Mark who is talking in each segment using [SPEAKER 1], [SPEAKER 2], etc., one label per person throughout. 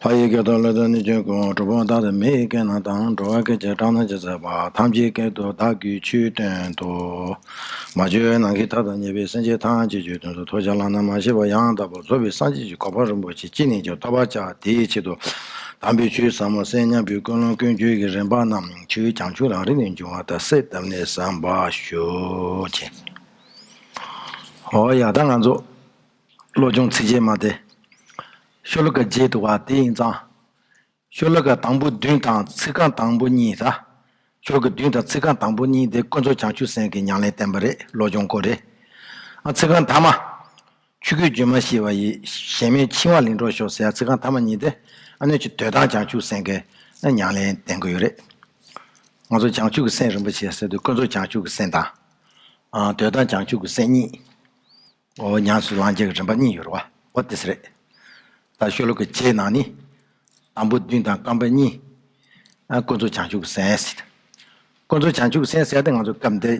[SPEAKER 1] ལྷ་ཡི་སྐད་དུ་བློས་བཏོན་ནི་ཆོས་ཀུན་གྲུབ་བོ་བདག་དང་མི་ཡི་སྐད་ནང་དང་འགྲོ་བ་སྐད་ཅིག་གྲགས་སྣང་ཅེས་ཟེར་བ་ཐམས་ཅད་སྐད་དུ་བདག་གིས་ཆོས་སྟོན་ཏོ། མ་བཅོས་བའི་ནང་གི་མཐའ་དང་ཉེ་བའི་སེམས་ཅན་ཐམས་ཅད་ཆོས་སྟོན་ཏོ་ཐོས་བྱ་བླང་ན་མ་ཤེས་པ་ཡང་དག་པར་རྫོགས་པའི་སངས་རྒྱས་ཀྱི་གོ་འཕང་རིན་པོ་ཆེ་ཅི་ནས་ཀྱང་ཐོབ་པར་བྱ་དེའི་ཆེད་དུ། དམ་པའི་ཆོས་ཟབ་མོ་གསན་སྙམ་པའི་ཀུན་སློང་ཀུན་སྤྱོད་ཀྱི་རིམ་པ་རྣམས་ཆོས་ཀྱི་བྱང་ཆུབ་རང་རིག་ནས་འབྱུང་བ་དག་གསལ་གདབ་ནས་བསམ་པར་ཞུ། ཨོ་ཡག་ད་ང་ཚོ་བློ་སྦྱོང་ཚིགས་བཅད་མ་སྟེ། ཤོ་ལོ་ཀ་བརྒྱད་དུ་བ་དེ་ཡིན་ཙང། ཤོ་ལོ་ཀ་དང་པོ་བདུན་དང་ཚིགས་རྐང་དང་པོ་གཉིས་ཟ། ཤོ་ལོ་ཀ་བདུན་དང་ཚིགས་རྐང་དང་པོ་གཉིས་དེ་དཀོན་མཚོ་བྱང་ཆུབ་སེམས་ཀྱི་ཉང་ལེན་བསྟན་པ་རེད་བློ་སྦྱོང་སྐོར་རེད། ཨ་ཚིགས་རྐང་དག་མ། ཆུ་སྐྱོད་རྒྱུན་མ་ཤེས་པ་ཡི། གཞན་མོས་འཆིང་བ་ལིང་གྲོགས་ཤོག་ཟེར་ཡ་ཚིག་རྐང་ཐ་མ་གཉིས་དེ། ཨ་ནུས་ཀྱི་དོད་དང་བྱང་ཆུབ་སེམས་ཀྱི་མྱང་ལེན་ལྡན་དགོས་ཡོད་རེད། ང་ཚོ་བྱང་ཆུབ་ཀྱི་སེམས་རིན་པོ་ཆེ་ཟེར་དུས་དཀོན་མཚོ་བྱང་ཆུབ་ཀྱི་སེམས་དང། དོད་དང་བྱང་ཆུབ་ཀྱི་སེམས་གཉིས། འོ་ཉམས་སུ་བླང་བྱ་གི་རིན་པ་གཉིས་ཡོད་རེད་བ་འོ་དེས་རེད། ད་ཤོ་ལོ་ཀའི་རྗེས་གནང་ནི། དང་པོ་བདུན་དང་རྐང་པ་གཉིས། དཀོན་མཚོ་བྱང་ཆུབ་ཀྱི་སེམས། དཀོན་མཚོ་བྱང་ཆུབ་ཀྱི་སེམས་ཟེར་ཏེ་ང་ཚོ་སྐབས་འདིར།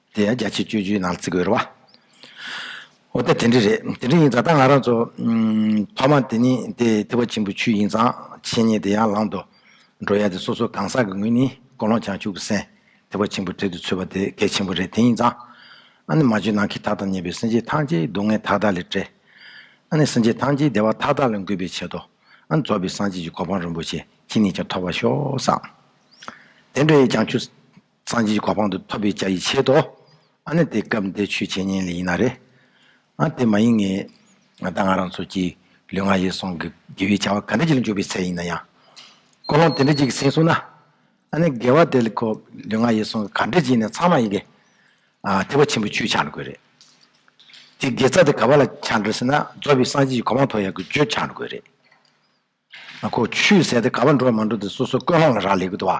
[SPEAKER 1] དེ་ཡང་རྒྱ་ཆེ་སྤྱོད་རྒྱུའི་ནང་བརྩི་དགོས་རེད་བ། འོ་ད་དེ་འདྲ་རེད། དེ་འདྲ་ཡིན་ཙང་ད་ང་རང་ཚོ། ཐོག་མ་དེ་ནི་དེ་ཐེ་བ་ཆེན་པོ་ཆུད་ཡིན་ཙང་ཆེད་ཉེ་དེ་ཡར་ལངས་འགྲོ། འགྲོ་ཡ་དེ་སོ་སོ་གང་ཟག་གི་ངོས་ནས་ཀོ་ལོང་བྱང་ཆུབ་ཀྱི་སེམས་ཐེ་བ་ཆེན་པོ་བྲལ་དུ་ཚུད་པ་དེ་གལ་ཆེན་པོ་རེད་དེ་ཡིན་ཙང། ཨ་ནི་མ་བཅོས་ནང་གི་དག་དང་ཉེ་བའི་སེམས་ཅན་ཐམས་ཅད་སྡུག་བསྔལ་མཐའ་དག་ལས་བྲལ། ཨ་ནི་སེམས་ཅན་ཐམས་ཅད་བདེ་བ་མཐའ་དག་ལ་འགོད་པའི་ཆེད་དུ། ཨ་ནི་རྫོགས་པའི་སངས་རྒྱས་ཀྱི་གོ་འཕང་རིན་པོ་ཆེ་ཁྱེད་ནས་ཀྱང་ཐོབ་པར་ཤོག་བསམ། དེ་འདྲ་ཡིས་ཀྱང་ཆུད། སངས་རྒྱས་ཀྱི་གོ་འཕང་དུ་ཐོབ་པའི་བྱ་ཡིས་བྱེད་དོ། ཨ་ནི་དེ་སྐབས་འདི་ཆོས་འཆད་ཉན་ལས་ཡིན་ན་རེ། ཨ་དེ་མ་ཡིན་ངེས། ང་དང་ང་རང་ཚོ་གྱིས་ལུས་ངག་ཡིད་གསུམ་གྱི་དགེ་བའི་བྱ་བ་ག་འདྲ་ཅིག་ལ་འཇུག་པའི་ཚད་ཡིན་ན་ཡང། ཀོ་ལོང་དེ་འདྲ་ཅིག་གི་སེམས་བཟུང་ན། ཨ་ནི་དགེ་བ་དེ་ལ་ཁོ་ལུས་ངག་ཡིད་གསུམ་གྱི་ག་འདྲ་ཅིག་ཡིན་ན་ཚང་མ་ཡིན་གྱི། ཨ་ཐེག་པ་ཆེན་པོའི་ཆོས་ཆགས་འགྲོ་དགོས་རེད། དེ་དགེ་རྩ་དེ་ག་བ་ལ་ཆགས་འགྲོ་ཟེར་ན་རྫོགས་པའི་སངས་རྒྱས་ཀྱི་གོ་འཕང་ཐོབ་ཡག་གི་རྒྱུ་ཆགས་འགྲོ་དགོས་རེད། ཨ་ཁོ་ཆུད་ཟས་དེ་ག་བ་འགྲོ་མ་འགྲོ་དེ་སོ་སོའི་ཀོས་ལྷང་ལ་རག་ལས་གི་འདུག་བ།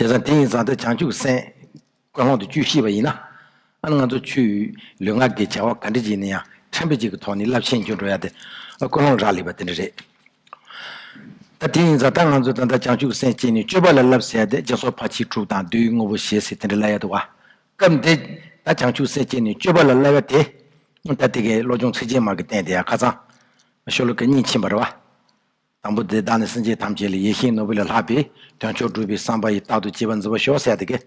[SPEAKER 1] བྱས་ཙང་དེ་ཡིན་ཙང་སྟེ་བྱང་ཆུབ་སེམས་དཔའ་ཁོང་དུ་བཅུ་ཤེས་པ་ཡིན་ན། ཨ་ནི་ང་ཚོ་ཆུ་ལུད་ངག་གི་བྱ་བ་ག་འདྲི་བྱེད་ནས་ཡང་ཕྲན་བུ་ཅིག་གི་ཐོག་ནས་རླབས་ཆེན་ཅིག་འགྲོ་ཡ་དེ་ཀུན་སློང་རག་ལས་པ་དེ་འདྲ་རེད། ད་དེ་ཡིན་ཙང་ད་ང་ཚོ་ད་ལྟ་བྱང་ཆུབ་སེམས་བསྐྱེད་ནས་སྤྱོད་པ་ལ་རླབས་ཟེར་ཡ་དེ་རྗེས་སོར་ཕ་ཁྱི་དྲུག་དང་བདུད་དངོས་པོ་ཞེས་ཟེར་དེ་འདྲ་ལབ་ཡ་འདུག་བ། སྐབས་འདི་ད་བྱང་ཆུབ་སེམས་བསྐྱེད་ནས་སྤྱོད་པ་ལ་རླབས་ཡ་དེ། ད་དེ་གའི་བློ་སྦྱོང་ཚིགས་བཅད་མར་གྱི་བསྟན་དེ་ཡང་ཁ་ཚང། ཤོ་ལོ་ཀ་གཉིས་ཕྱིན་པར་བ། དང་པོ་དེ་དག་ནི་སེམས་ཅན་ཐམས་ཅད་ལས་ཡེ་ཤེས་ནོར་བུ་ལས་ལྷག་པའི་དོན་མཆོག་བསྒྲུབ་པའི་བསམ་པ་ཡིས་རྟག་ཏུ་སྐྱེ་བར་འཛིན་པ་ཞོ་ཟད་དེ་ཀའི།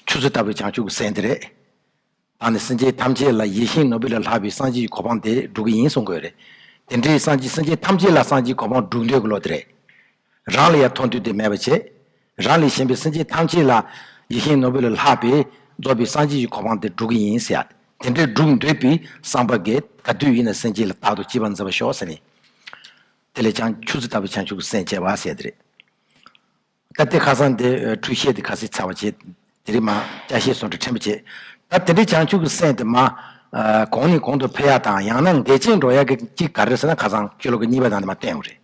[SPEAKER 1] ཆུ་ཚོད་ལྟ་བུའི་བྱང་ཆུབ་ཀྱི་སེམས་དེ་རེད། དང་ནི་སེམས་ཅན་ཐམས་ཅད་ལ་ཡེ་ཤེས་ནོར་བུ་ལས་ལྷག་པའི་སངས་རྒྱས་ཀྱི་གོ་འཕང་དེ་བསྒྲུབ་ཀྱི་ཡིན་གསུང་དགོས་རེད། དེ་འདྲའི་སངས་རྒྱས་སེམས་ཅན་ཐམས་ཅད་ལ་སངས་རྒྱས་ཀྱི་གོ་འཕང་བསྒྲུབ་འདོད་ཀྱི་བློ་དེ་རེད། རང་ལ་ཡང་མཐོང་ཐོས་དེ་མེད་པར་བྱས། རང་ལས་གཞན་པའི་སེམས་ཅན་ཐམས་ཅད་ལ། ཡེ་ཤེས་ནོར་བུ་ལ་ལྷག་པས་རྫོགས་པའི་སངས་རྒྱས་ཀྱི་གོ་འཕང་དེ་བསྒྲུབ་ཀྱི་ཡིན་ཟེར། དེ་འདྲའི་བསྒྲུབ་འདོད་པའི་བསམ་པ་འགས་ད་དུས་ཡིན་ན་སེམས་ཅན་ལ་རྟག་ཏུ་སྐྱིད་པ་མཛད་པར་ཤོག་ཟེར་ནས། དེ་ལས་བྱང་ཆུབ་སེམས་དཔའ་བྱང་ཆུབ་ཀྱི་སེམས་བསྐྱེད་པར་ཟད་དེ་རེད། ད་དེ་ཁ་སང་དེ་འཁྲུལ་བཤད་དེ་ག་སེ་ཚར་བར་བྱས། དེ་རིང་མ་སྐྱ་ཤས་སོང་དྲི་ཕྲན་བུ་བྱས། ད་དེ་འདྲའི་བྱང་ཆུབ་ཀྱི་སེམས་དེ་མ། གོང་ནས་གོང་དུ་འཕེལ་ཡག་དང་ཡང་ན་འགལ་རྐྱེན་འགྲོ་ཡག་གི་གཅིག་ག་རེ་ཟེར་ན་ཁ་སང་ཁྱོད་ལོག་གི་གཉིས་པ་དང་དེ་མ་བསྟན་བོ་རེད།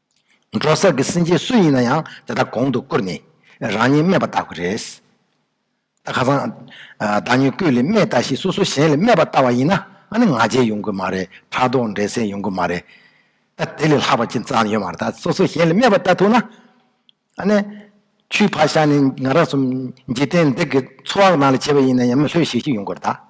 [SPEAKER 1] འབྲོག་ས་ཀྱི་སེང་ཆེན་སུ་ཡིན་ན་ཡང་དེ་དག་གོང་དུ་བཀུར་ནས་རང་ཉིད་སྨད་པ་བལྟ་དགོས་རེད། ད་ཁ་སང། བདག་ཉིད་སྐུ་ལས་སྨད་ལྟ་ཞིག་སོ་སོ་གཞན་ལས་སྨད་པ་བལྟ་བ་ཡིན་ན་ནི་ང་རྒྱལ་ཡོང་གི་མ་རེད་ཕྲག་དོག་འགྲན་སེམས་ཡོང་གི་མ་རེད། ད་དེ་ལས་ལྷག་པ་ཅི་ཙང་ཡོད་མ་རེད་ད་སོ་སོ་གཞན་ལས་སྨད་པ་བལྟ་ཐུབ་ན། ནི། ཆུའི་ཕར་ཤར་ནས་ང་རང་སུ་འཇིག་རྟེན་འདི་གི་འཚོ་བ་ནང་ལས་བྱེད་པ་ཡིན་ན་ཡང་མི་ལྷོད་ཤིག་ཤིག་ཡོང་དགོས་རེད་ད།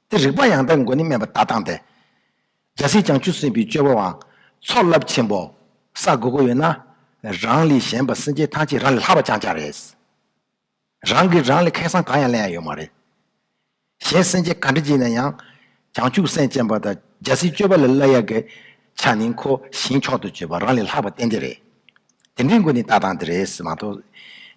[SPEAKER 1] ཏེ་རིག་པ་ཡང་དག་མགོན་ནི་སྨན་པ་བདག་དང་སྟེ། འཇའ་ཟེར་བྱང་ཆུབ་སེམས་དཔའི་སྤྱོད་པ་དབང། ཚོགས་རླབས་ཆེན་པོ། ས་དགུ་དགུ་ཡོད་ན། རང་ལས་གཞན་པ་སེམས་ཅན་ཐམས་ཅད་རང་ལས་ལྷག་པ་རྐྱང་རྐྱང་རེད། རང་གིས་རང་ལས་ཁེགས་སང་གང་ཡང་གླེང་ཡ་ཡོད་མ་རེད། གཞན་སེམས་ཅན་ག་འདྲ་བགྱིས་ན་ཡང། བྱང་ཆུབ་སེམས་ཅན་པ་དང་འཇའ་ཟེར་སྤྱོད་པ་ལས་བླ་ཡག་གི། ཆ་ནི་འཁོར་ཞིང་མཆོག་ཏུ་སྤྱོད་པ་རང་ལས་ལྷག་པ་གཏན་བདེ་རེད། དེ་འདྲའི་མགོ་ནི་ལྟ་སྟངས་དེ་རེད་ཟེར་མ་གཏོགས་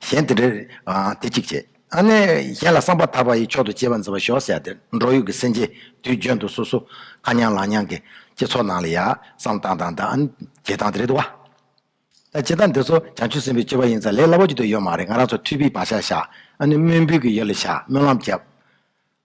[SPEAKER 1] གཞན་དེ་འདྲ་རེད། དེ་གཅིག་བྱས། ཨ་ནེ། གཞན་ལ་བསམ་པ་དག་པ་ཡི་མཆོག་ཏུ་གཅེས་པ་མཛད་པར་ཤོག་ཟེར་ཡ་དེ་འབྲོག་ཡུལ་གྱི་སེམས་ཅན་དུས་འཇོན་དུ་སོ་སོ་ཁ་མྱང་ལག་མྱང་གི་སྤྱི་ཚོགས་ནང་ལ་ཡ་བསམ་སྟངས་དང་དང་བྱེད་སྟངས་དེ་རེད་དོ། ད་བྱེད་སྟངས་འདི་ཚོ་བྱང་ཆུབ་སེམས་པའི་སྤྱོད་པ་ཡིན་ཙང་ལས་སླ་པོ་ཅིག་ཏུ་ཡོད་མ་རེད་ང་རང་ཚོ་འཁྲིས་པའི་བག་ཆགས་བཞག་ཨ་ནེ་སྨོན་འབུལ་གྱི་ཡོད་ལ་བཞག་སྨོན་ལམ་བརྒྱབ།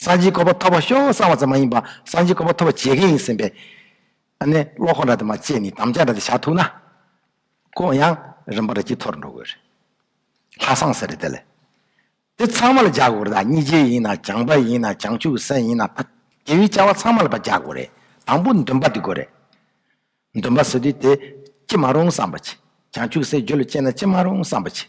[SPEAKER 1] སངས་རྒྱས་སྐོར་པ་ཐོབ་པར་ཤོག་གསང་བ་ཙམ་མ་ཡིན་པར་སངས་རྒྱས་སྐོར་པ་ཐོབ་པར་བྱེད་མཁན་ཡིན་ཟིན་པས། ཨ་ནེ་བློ་ཁོག་འདྲ་དེ་མ་སྤྱད་ནས་དམ་བཅའ་འདྲ་དེ་བཞག་ཐུག་ན། ཁོང་ཡང་རིམ་པར་དཀྱིལ་འཐོར་འགྲོ་དགོས་རེད། ལྷ་བསང་ཟེར་རེད་དེ་ལས། དེ་ཚང་མ་ལ་རྒྱག་དགོས་རེད་ད་སྙི་རྗེ་ཡིན་ན་བྱང་པ་ཡིན་ན་བྱང་ཆུབ་སེམས་ཡིན་ན་ད་རྒྱལ་བའི་བཅའ་བ་ཚང་མ་ལ་བ་རྒྱག་དགོས་རེད་དང་པོ་འདུན་པ་དེ་དགོས་རེད། འདུན་པ་བཟོས་དུས་དེ་ཅི་མ་རུང་བསམ་པ་བྱེད་བྱང་ཆུབ་སེམས་རྒྱུད་ལ་སྐྱེས་ན་ཅི་མ་རུང་བསམ་པ་བྱེད།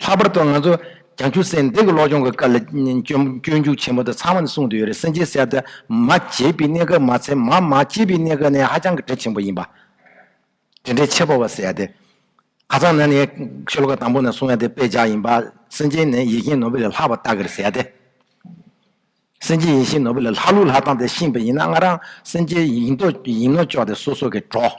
[SPEAKER 1] ལྷག་པར་དུ་ང་ཚོ་གྱང་ཆུ་སེར་འདེགས་ཀྱི་གློག་སྦྱོང་གི་སྐབས་ལ་སྐྱོན་འཇུག་ཆེན་པོ་དེ་ཚང་མ་ནི་གསུངས་དུ་ཡོད་རེད་སེམས་ཅན་གསལ་ཐོད་མ་བྱེད་པའི་གནས་སྐབས་མ་ཚད་མ་མ་བྱེད་པའི་གནས་སྐབས་ནས་ཧ་ཅང་གི་དྲི་ཆེན་པོ་ཡིན་པ། དྲི་འདྲེ་ཆེ་པོ་བ་བསལ་ཏེ། ཁ་སང་ན་ནི་ཤོ་ལོ་ཀ་དང་པོ་ནས་བཟུང་ཡང་དེ་དཔེ་བྱ་ཡིན་པ། སེམས་ཅན་ནི་ཡེ་ཤེས་ནོར་བུ་ལས་ལྷག་པ་ལྟ་གིར་ཟད་དེ། སེམས་ཅན་ཡེ་ཤེས་ནོར་བུ་ལས་ལྷག་ལུགས་ལྷག་སྟངས་དེ་ཤེས་པ་ཡིན་ན་སྔ་རང་སེམས་ཅན་ཡིན་ནོ་ཅོག་དེ་སོ་སོ་གི་གྲོགས།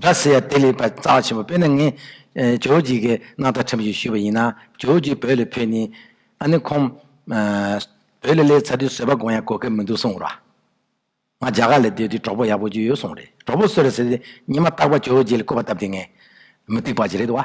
[SPEAKER 1] སྒྲ་ཟེར་ཡ་དེ་ལས་པ་རྩ་བ་ཆེན་པོ་དཔེར་ན་ངས་ཇོ་ཇིག་གི་སྣང་བརྟགས་ཁྲིམས་ཞིག་ཞུས་པ་ཡིན་ན་ཇོ་ཇིག་བོད་ལ་ཕེབས་ནས་ཨ་ནི་ཁོང་བོད་ལ་སླེབས་ཚར་དུས་བཟོད་པ་སྒོམ་ཡ་གོ་སྐབས་མི་འདུག་གསུངས་རོགས། ང་རྒྱ་གར་ལ་སྡོད་དུས་གྲོགས་པོ་ཡག་པོ་བརྒྱུད་ཡོད་གསུངས་རེད་གྲོགས་པོ་བསོད་ར་ཟེར་དེ་ཉི་མ་རྟག་པར་ཇོ་ཇིག་ལ་བསྐོས་པ་སྟབས་དེ་ངས་མི་སྡིག་པ་ཅི་རེད་བ།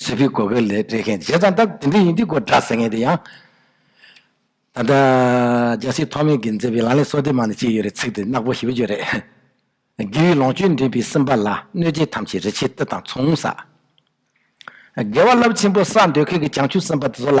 [SPEAKER 1] བྱིས་པའི་གོ་སྐལ་ལས་བྲེལ་མཁན་བྱས་ཙང་ད་དེ་འདྲས་ཡིན་དུས་གོ་བསྒྲགས་ཟེར་མཁན་དེ་ཡང། ད་ལྟ་རྒྱལ་སྲིད་ཐོག་མེད་ཀྱིས་མཛད་པའི་ལང་ལས་སྲོག་ལྡན་མང་ནས་ཅི་ཡོད་རེད་ཚིག་དེ་རྣག་པོ་ཞིབ་བརྗོད་རེད། དགེ་བའི་ལོངས་སྤྱོད་འདྲེན་པའི་སེམས་པ་ལ་གནོད་བྱེད་ཐམས་ཅད་རི་ཆེན་གཏེར་དང་མཚུངས་ས། དགེ་བ་རླབས་ཆེན་པོ་བསགས་འདོད་མཁན་གྱི་བྱང་ཆུབ་སེམས་དཔའ་དེ་ཚོ་ལ།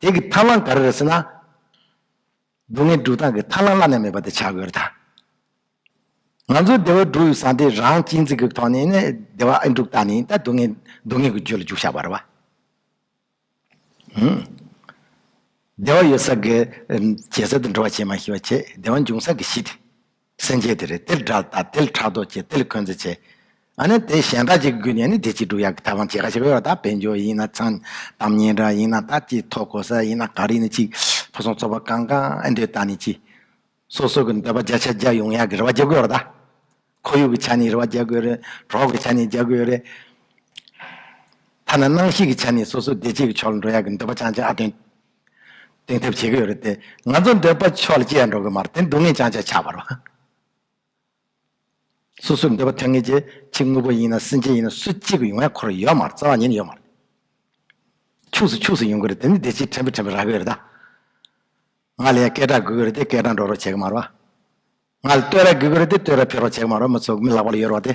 [SPEAKER 1] དེ་གི་ཐར་ལང་ག་རེ་རེད་ཟེར་ན། སྡུག་བསྔལ་འགྲུབ་སྟངས་ཀྱི་ཐར་ལང་བླ་ན་མེད་པ་དེ་བྱ་དགོས་རེད་ད། ང་ཚོའི་བདེ་བ་འགྲུབ་ཡོད་སའང་དེ་རང་གཅེས་འཛིན་གྱི་ཐོག་ནས་ནི་བདེ་བ་ཨེ་འགྲུབ་ད་ནི་ད་སྡུག་བསྔལ་སྡུག་བསྔལ་གྱི་རྒྱུད་ལ་འཇུག་བྱ་བ་རེད་བ། ཧུམ། བདེ་བ་ཡོད་ས་གི། བྱས་ཚད་དུ་འགྲོ་བ་བྱེད་མ་ཤེས་བ་བྱས་བདེ་བ་འབྱུང་ས་གི་གཞི་དེ། སེམས་བསྐྱེད་དེ་རེ་ཏིལ་དྲག་བཏགས་ཏིལ་ཕྲག་དོག་བསྐྱེད་ཏིལ་འཁོན་རྩི་བྱས། ཨ་ནི་དེ་གཞན་དག་ཅིག་བསྒུལ་ནས་ནི་དེ་གཅིག་དྲུག་ཡར་གྱི་ཐབས་དབང་བྱེད་ཁ་ཕྱེ་བས་བ་དག་བེད་འཇོག་ཡིན་ན་ཚང་དམ་ཉེ་འདྲ་ཡིན་ན་དག་ཅིག་ཐོག་གོ་ས་ཡིན་ན་ག་རེ་ཡིན་ནི་ཅིག་ཕུན་སུམ་ཚོགས་པ་གང་གང་ཨེ་འདོད་བརྟགས་ནས་ཅི། སོ་སོ་གི་འདོད་པ་བརྒྱ་ཆ་བརྒྱ་ཡོང་ཡག་གི་རེ་བ་རྒྱག་དགོས་བ་དག། ཁོར་ཡུག་གི་ཆ་ནས་རེ་བ་རྒྱག་དགོས་རེད་གྲོགས་ཀྱི་ཆ་ནས་རྒྱག་དགོས་རེད། ཐ་ན་སྣང་ཤེས་ཀྱི་ཆ་ནས་སོ་སོ་བདེ་སྐྱིད་ཀྱི་ཕྱོགས་ལ་འགྲོ་ཡག་གི་འདོད་པ་ཅང་ཅང་ཨ་དོན་གཏིང་ཐེབས་བྱེད་ཀྱི་ཡོད་རེད་དེ། ང་ཚོ་འདོད་པ་ཕྱོགས་ལ་སྐྱེལ་ཡང་འགྲོ་གི་མ་རེད་དེ་སྡུག་བསྔལ་ཅང་ཅང་ཆགས་པར་བ། སོ་སོའི་འདོད་པ་ཐོན་ངེས་ཀྱི་ཕྱི་དངོས་པོ་ཡིན་ན་སེམས་ཅན་ཡིན་ན་སུ་གཅིག་གི་ཡོང་ཡ་འཁོར་ཡོད་མ་རེད་རྩ་བ་ཉིད་ཡོད་མ་རེད། ཕྱུགས་སུ་ཕྱུགས་སུ་ཡོང་གི་རེད་དེ་ནི་བདེ་སྐྱིད་ཕྲན་བུ་ཕྲན་བུ་རག་གི་ཡོད་རེད་ད། ང་ལ་ཡང་སྐད་གྲགས་དགོས་ཀྱི་རེད་དེ་སྐད་གྲགས་འགྲོ་རོགས་བྱེད་ཀྱི་མ་རེད་བ། ང་ལ་བསྟོད་ར་དགོས་ཀྱི་རེད་དེ་བསྟོད་ར་འཕེལ་རོགས་བྱེད་ཀྱི་མ་རེད་བ་མི་ཚོ་མི་ལག་པ་ལ་ཡོད་རེད་བ་དེ།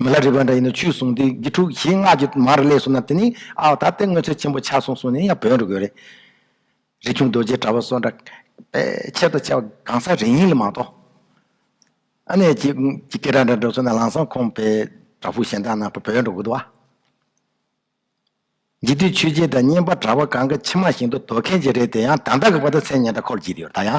[SPEAKER 1] མི་ལ་རིགས་པ་འདྲ་ཡིན་ན་ཆོས་གསུངས་ཏེ་དགེ་ཕྲུག་གཞན་སྔགས་ཀྱི་མར་བསླད་གསུངས་ན་དེ་ནི་ཨའོ་ད་ལྟའི་དངོས་ཚོད་ཆེན་པོ་ཆགས་སོང་གསུངས་ནས་ཡང་བོན་རི་དགོས་རེད། རི་ཁྱུང་རྡོ་རྗེའི་དྲ་བ་སོགས་འདྲ། པའི་ཆེད་དུ་བྱས་པ་གང་ཟག་རིགས་ཡིན་ལ་མ་གཏོགས། ཨ་ནེ་ཀྱི་སྐད་སྒྲ་འདྲ་འདྲ་གསུངས་ན་ལང་སང་ཁོང་པའི་དྲ་ཕུག་གཞན་དག་ན་བོན་རི་དགོས་འདུག་ཨ། འཇིག་རྟེན་ཆོས་རྗེ་དང་སྙན་པ་དྲ་བ་གང་གི་ཕྱི་མ་བཞིན་དུ་དོ་མཁན་གྱི་རེད་དེ་ཡང་དམ་བདག་གི་བ་ད་ཚན་ཉན་ད་ཁོར་བགྱིད་དེ་ཡོད་ད་ཡང།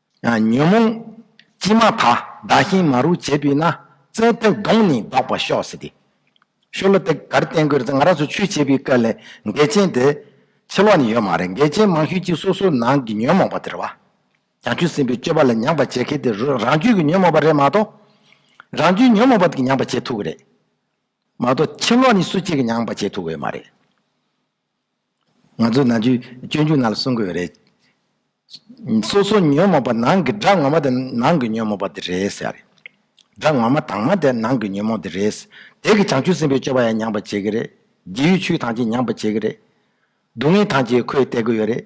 [SPEAKER 1] ཉོན་མོངས་ཀྱིས་མ་དག་བདག་ཞིང་མ་རུ་བྱས་པས་ན་བཙན་ཐབས་གདོང་ནི་བཟློག་པར་ཤོག་ཟེར་ཏེ། ཤོ་ལོ་ཏིག་གར་བསྟན་དགོས་ཚེ་ང་རང་ཚོ་ཆོས་བྱེད་པའི་སྐབས་ལས་འགལ་ཆེན་དེ་ཕྱི་ལོགས་ནས་ཡོད་མ་རེད་འགལ་ཆེན་མང་ཤོས་གཅིག་སོ་སོའི་ནང་གི་ཉོན་མོངས་པ་དེར་བ་ཀྱང་ཆུད་ཟིན་པའི་སྤྱོད་པ་ལ་མྱངས་པར་བྱེད་མཁན་དེ་རང་རྒྱུད་ཀྱི་ཉོན་མོངས་པ་རེད་མ་གཏོགས། རང་རྒྱུད་ཉོན་མོངས་པ་དེ་གིས་མྱངས་པར་བྱེད་ཐུབ་ཀྱི་རེད་མ་གཏོགས་ཕྱི་ལོགས་ནས་སུ་གཅིག་གིས་མྱངས་པར་བྱེད་ཐུབ་འོས་མ་རེད། ང་ཚོས་ནང་བཅུད་སྤྱོད་འཇུག་ནང་ལ་གསུང་དགོས་པ་རེད། སོ་སོ་ཉོན་མོངས་པ་ནང་གི་དགྲ་ངོ་མ་དེ་ནང་གི་ཉོན་མོངས་པ་དེ་རེད་ཟེར་བ་རེད། དགྲ་ངོ་མ་དྭངས་མ་དེ་ནང་གི་ཉོན་མོངས་དེ་རེད། དེ་གིས་བྱང་ཆུབ་སེམས་དཔའི་སྤྱོད་པ་ཡང་ཉམས་པར་བྱེད་ཀྱི་རེད། རྗེས་ཡོད་ཆུའི་ཐང་ཆེན་ཉམས་པར་བྱེད་ཀྱི་རེད། སྡུག་བསྔལ་ཐང་ཆེན་ཁོས་བལྟས་ཀྱི་ཡོད་རེད།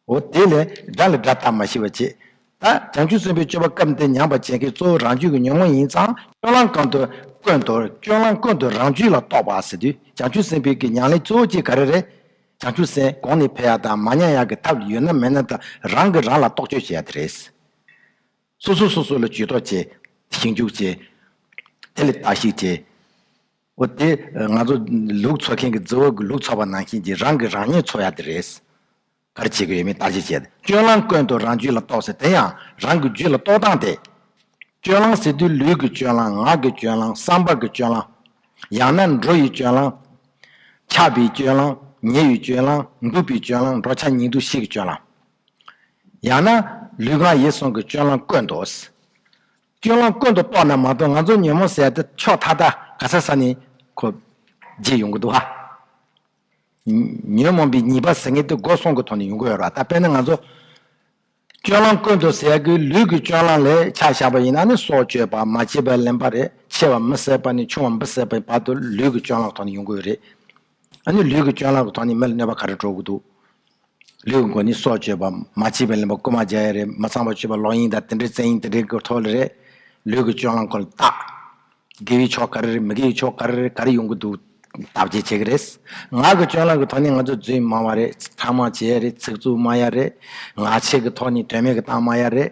[SPEAKER 1] འོ་དེ་ལས་སྒྲ་ལ་སྒྲ་དག་མ་ཤི་བ་བྱེད། ད་བྱང་ཆུབ་སེམས་དཔའི་སྤྱོད་པ་སྐབས་འདིར་ཉམས་པར་བྱེད་མཁན་གཙོ་བོ་རང་རྒྱུད་ཀྱི་ཉོན་མོངས་ཡིན་ཙང་སྐྱོན་ལམ་གང་དུ་བཀོད་འདུག་སྐྱོན་ལམ་བཀོད་འདུག་རང་རྒྱུད་ལ་རྟོག་པ་ཟེར་དུས་བྱང་ཆུབ་སེམས་དཔའི་གི་མྱང་ལས་གཙོ་བོ་གཅིག་ག་རེ་རེད། བྱང་ཆུབ་སེམས་གོང་ནས་འཕེལ་ཡག་དང་མ་མྱང་ཡག་གི་ཐབས་ཡོད་ན་མེད་ན་དང་རང་གིས་རང་ལ་རྟོག་དཔྱོད་བྱེད་ཡག་དེ་རེད། སོ་སོས་སོ་སོ་ལ་ཇུས་གཏོགས་བྱེད། ཞིབ་འཇུག་བྱེད། དེ་ལས་བརྟག་གཞིག་བྱེད། འོ་དེ་ང་ཚོ་ལུག་འཚོ་མཁན་གྱི་རྫི་བོ་ལུག་འཚོ་བ་ནང་བཞིན་གྱི་རང་གི་རང་ཉིད་འཚོ་ཡག་དེ་རེད། གར་བྱེད་ཀྱི་ཡོད་མེད་བརྟག་དཔྱད་བྱས་ཏེ་སྤྱོད་ལམ་དཀོན་དུ་རང་རྒྱུད་ལ་གཏོགས་ཟེར་དེ་ཡང་རང་གི་རྒྱུད་ལ་གཏོགས་སྟངས་དེ། སྤྱོད་ལམ་ཟེར་དུས་ལུས་ཀྱི་སྤྱོད་ལམ་ངག་གི་སྤྱོད་ལམ་བསམ་པ་གི་སྤྱོད་ལམ། ཡང་ན་འགྲོ་ཡི་སྤྱོད་ལམ། འཆག་པའི་སྤྱོད་ལམ། ཉལ་བའི་སྤྱོད་ལམ། འདུག་པའི་སྤྱོད་ལམ་འགྲོ་འཆག་ཉལ་འདུག་ཤེས་ཀྱི་སྤྱོད་ལམ། ཡང་ན་ལུས་ངག་ཡིད་གསུམ་གྱི་སྤྱོད་ལམ་དཀོན་དུ། སྐྱོན་ལམ་དཀོན་དུ་གཏོགས་ན་མ་གཏོགས་ང་ཚོ་ཉོན་མོངས་ཟད་དེ་ཕྱོགས་མཐའ་དག་ག་ས་ས་ནས་ཁོ་རྗེས་ཡོང་གི་འདུག་ཨ། ཉོན་མོངས་པའི་ཉེས་པ་ཟེར་མཁན་དེ་སྒོ་སྲུང་གི་ཐོག་ནས་ཡོང་གི་ཡོད་ར་ད་དཔེར་ན་ང་ཚོ་སྐྱོན་ལམ་དཀོན་དུ་ཟད་ཀྱི་ལུས་ཀྱི་སྐྱོན་ལམ་ལས་ཆ་བཞག་པ་ཡིན་ན་ནི་སྲོག་གཅོད་པ་མ་བྱས་པའི་ལན་པ་རེད་ཆེ་བ་མི་བསད་པ་ནས་ཆུང་བ་མི་བསད་པའི་བར་དུ་ལུས་ཀྱི་སྐྱོན་ལམ་གི་ཐོག་ནས་ཡོང་གི་ཡོད་རེད་ཨ་ནི་ལུས་ཀྱི་སྐྱོན་ལ་གོ་ཐོག་ནི་མི་ལ་གནོད་པ་ག་རེ་འགྲོ་གི་འདུག། ལུས་ཀྱི་མགོ་ནི་སྲོག་གཅོད་པ། མ་བྱིས་པའི་ལུས་པོ་རྐུ་མ་བརྒྱག་ཡ་རེད། མི་ཚངས་པ་བཅུས་པ་ལོག་གཡེང་དང་དེ་འདྲའི་བཙན་གཡེང་དེ་འདྲའི་གོ་ཐོག་ལ་རེད། ལུས་ཀྱི་སྐྱོན་ལ་གོ་ལ་བལྟ། དགེ་བའི་ཕྱོགས་ག་རེ་རེད་མི་དགེ་བའི་ཕྱོགས་ག་རེ་རེད་ག་རེ་ཡོང་གི་འདུག་བལྟ་བྱེད་བྱེད་ཀྱི་རེད། ངག་གི་སྐྱོན་ལ་གོ་ཐོག་ནི་ང་ཚོ་རྫུན་སྨྲ་བ་རེད། ཕྲ་མ་བྱེད་ཡ་རེད་ཚིག་རྩུབ་སྨྲ་ཡ་རེད། ངག་འཆལ་གྱི་ཐོག་ནི་དོན་མེད་ཀྱི་གཏམ་སྨྲ་ཡ་རེད།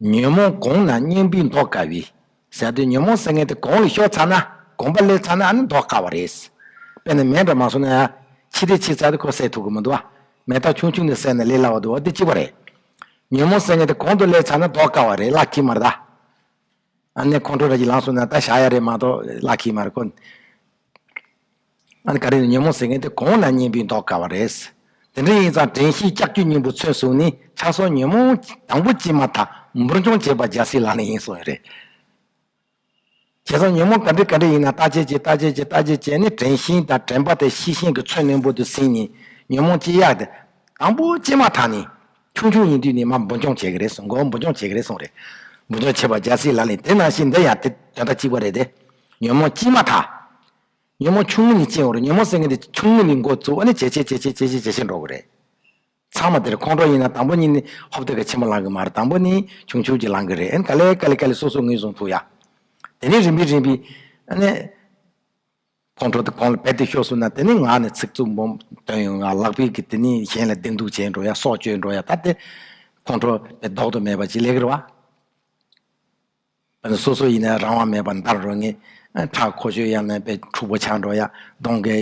[SPEAKER 1] ཉོན་མོངས་དགོངས་ན་གཉེན་པོས་འདོགས་དཀའ་བས། ཟད་དོ་ཉོན་མོངས་སེལ་མཁན་དེ་གང་ལ་ཤོག་ཚར་ན་དགོངས་པ་སླེབས་ཚར་ན་ནི་འདོགས་དཀའ་བ་རེད། དཔེར་ན་མེ་འདྲ་མ་བཟུང་ན། ཕྱི་དེ་ཕྱི་ཚར་དུ་ཁོ་སེལ་ཐུབ་ཀྱི་མི་འདུག། མེ་སྟག་ཆུང་ཆུང་དེ་བསད་ན་ལས་སླ་བ་འདུག་འདི་གཅིག་པ་རེད། ཉོན་མོངས་སེལ་མཁན་དེ་གང་དུ་སླེབས་ཚར་ན་འདོགས་དཀའ་བ་རེད་གླགས་འཁྱིལ་མ་རེད་ད། ཨ་ནེ་ཁོང་ཁྲོ་ར་གྱིས་ལངས་སོང་ན་ད་བཞག་ཡ་རེད་མ་གཏོགས་གླགས་འཁྱིལ་མ་རེད་ཁོ། ཨ་ནི་ག་རེ་ནས་ཉོན་མོངས་ཟེར་མཁན་དེ་གོང་ན་བསྙེན་པའི་མདོག་དཀར་བ་རེད། དེ་འདྲ་ཡིན་ཙང་དྲན་ཤེས་ལྕགས་ཀྱུ་སྙིང་པོ་མཚོན་སོགས་ནི་ཆགས་སོགས་ཉོན་མོངས་དང་པོ་སྐྱེས་མ་ཐག་འབུར་འཇོམས་བྱེད་པ་རྒྱལ་སྲིད་ལག་ལེན་ཡིན་སོགས་རེད། བྱས་ཙང་ཉོན་མོངས་ག་འདྲི་ག་འདྲི་ཡིན་ན་ལྟ་བྱེད་ཀྱིས་ལྟ་བྱེད་ཀྱིས་ལྟ་བྱེད་བྱས་ནས་དྲན་ཤིང་དང་དྲན་པ་དེ་ཤེས་ཤིང་གི་མཚོན་རྣོན་པོ་དུ་ཟིན་ནས་ཉོན་མོངས་སྐྱེ་ཡག་དེ། དང་པོ་སྐྱེས་མ་ཐག་ནས། ཆུང་ཆུང་ཡིན་དུས་ནས་མ་འབུར་འཇོམས་བྱེད་ཀྱི་རེད་གསུངས་གོ་འབུར་འཇོམས་བྱེད་ཀྱི་རེད་གསུངས་རེད། འབུར་འཇོམས་བྱེད་པ་རྒྱལ་སྲིད་ལག་ལེན་དེ་ནང་བཞིན་འདི་ཡང་དེ་དོན་དག་གཅིག་པ་རེད་དེ། ཉོན་མོངས་སྐྱེས་མ་ཐག། ཉོན་མོངས་ཆུང་ངུ་ནི་ཅི་ཡང་རུང་ཉོན་མོངས་སེལ་མཁན་དེ་ཆུང་ངུ་ནི་འགོ་བཙུགས་ཨ་ནི་ཇེ་ཆེ་ཇེ་ཆེ་ཇེ་ཆེ་ཇེ་ཆེར་འགྲོ་གི་རེད། ཚང་མ་དེར་ཁོང་ཁྲོ་ཡིན་ན་དང་པོ་གཉིས་ནི་ཧོབ་སྟོད་ཀྱི་ཆེན་མོ་ལང་གི་མ་རེད་དང་པོ་ནི་ཆུང་ཆུང་གྱི་ལང་གི་རེད་ཨ་ནི་ཀ་ལེ་ཀ་ལེ་ཀ་ལེ་སོ་སོ་ངོས་བཟུང་ཐུག་ཡ། དེ་ནི་རིམ་པས་རིམ་པས་ཨ་ནི། ཁོང་ཁྲོ་དེ་གོང་ལ་བད་དེ་ཤོར་སོང་ན་དེ་ནི་ངག་ནས་ཚིག་རྩུབ་འབོམ་བཏོན་ཡོང་ཡ་ལག་པས་དེ་ནི་གཞན་ལ་སྡིགས་མདུག་བྱས་འགྲོ་ཡ་སྲོག་གཅོད་འགྲོ་ཡ་ད་དེ། ཁོང་ཁྲོ་དེ་ལྡོག་ཏུ་མེད་པ་ཅི་ལེགས་རེད་བ། སོ་སོ་ཡིན་ན་རང་དབང་མེད་པར་འདར་རོ་ངེས། ཁྲག་འཁོར་གཞོན་ཡང་མེད་པའི་ཕྲུག་པོ་ཆགས་འགྲོ་ཡ། གདོང་གི་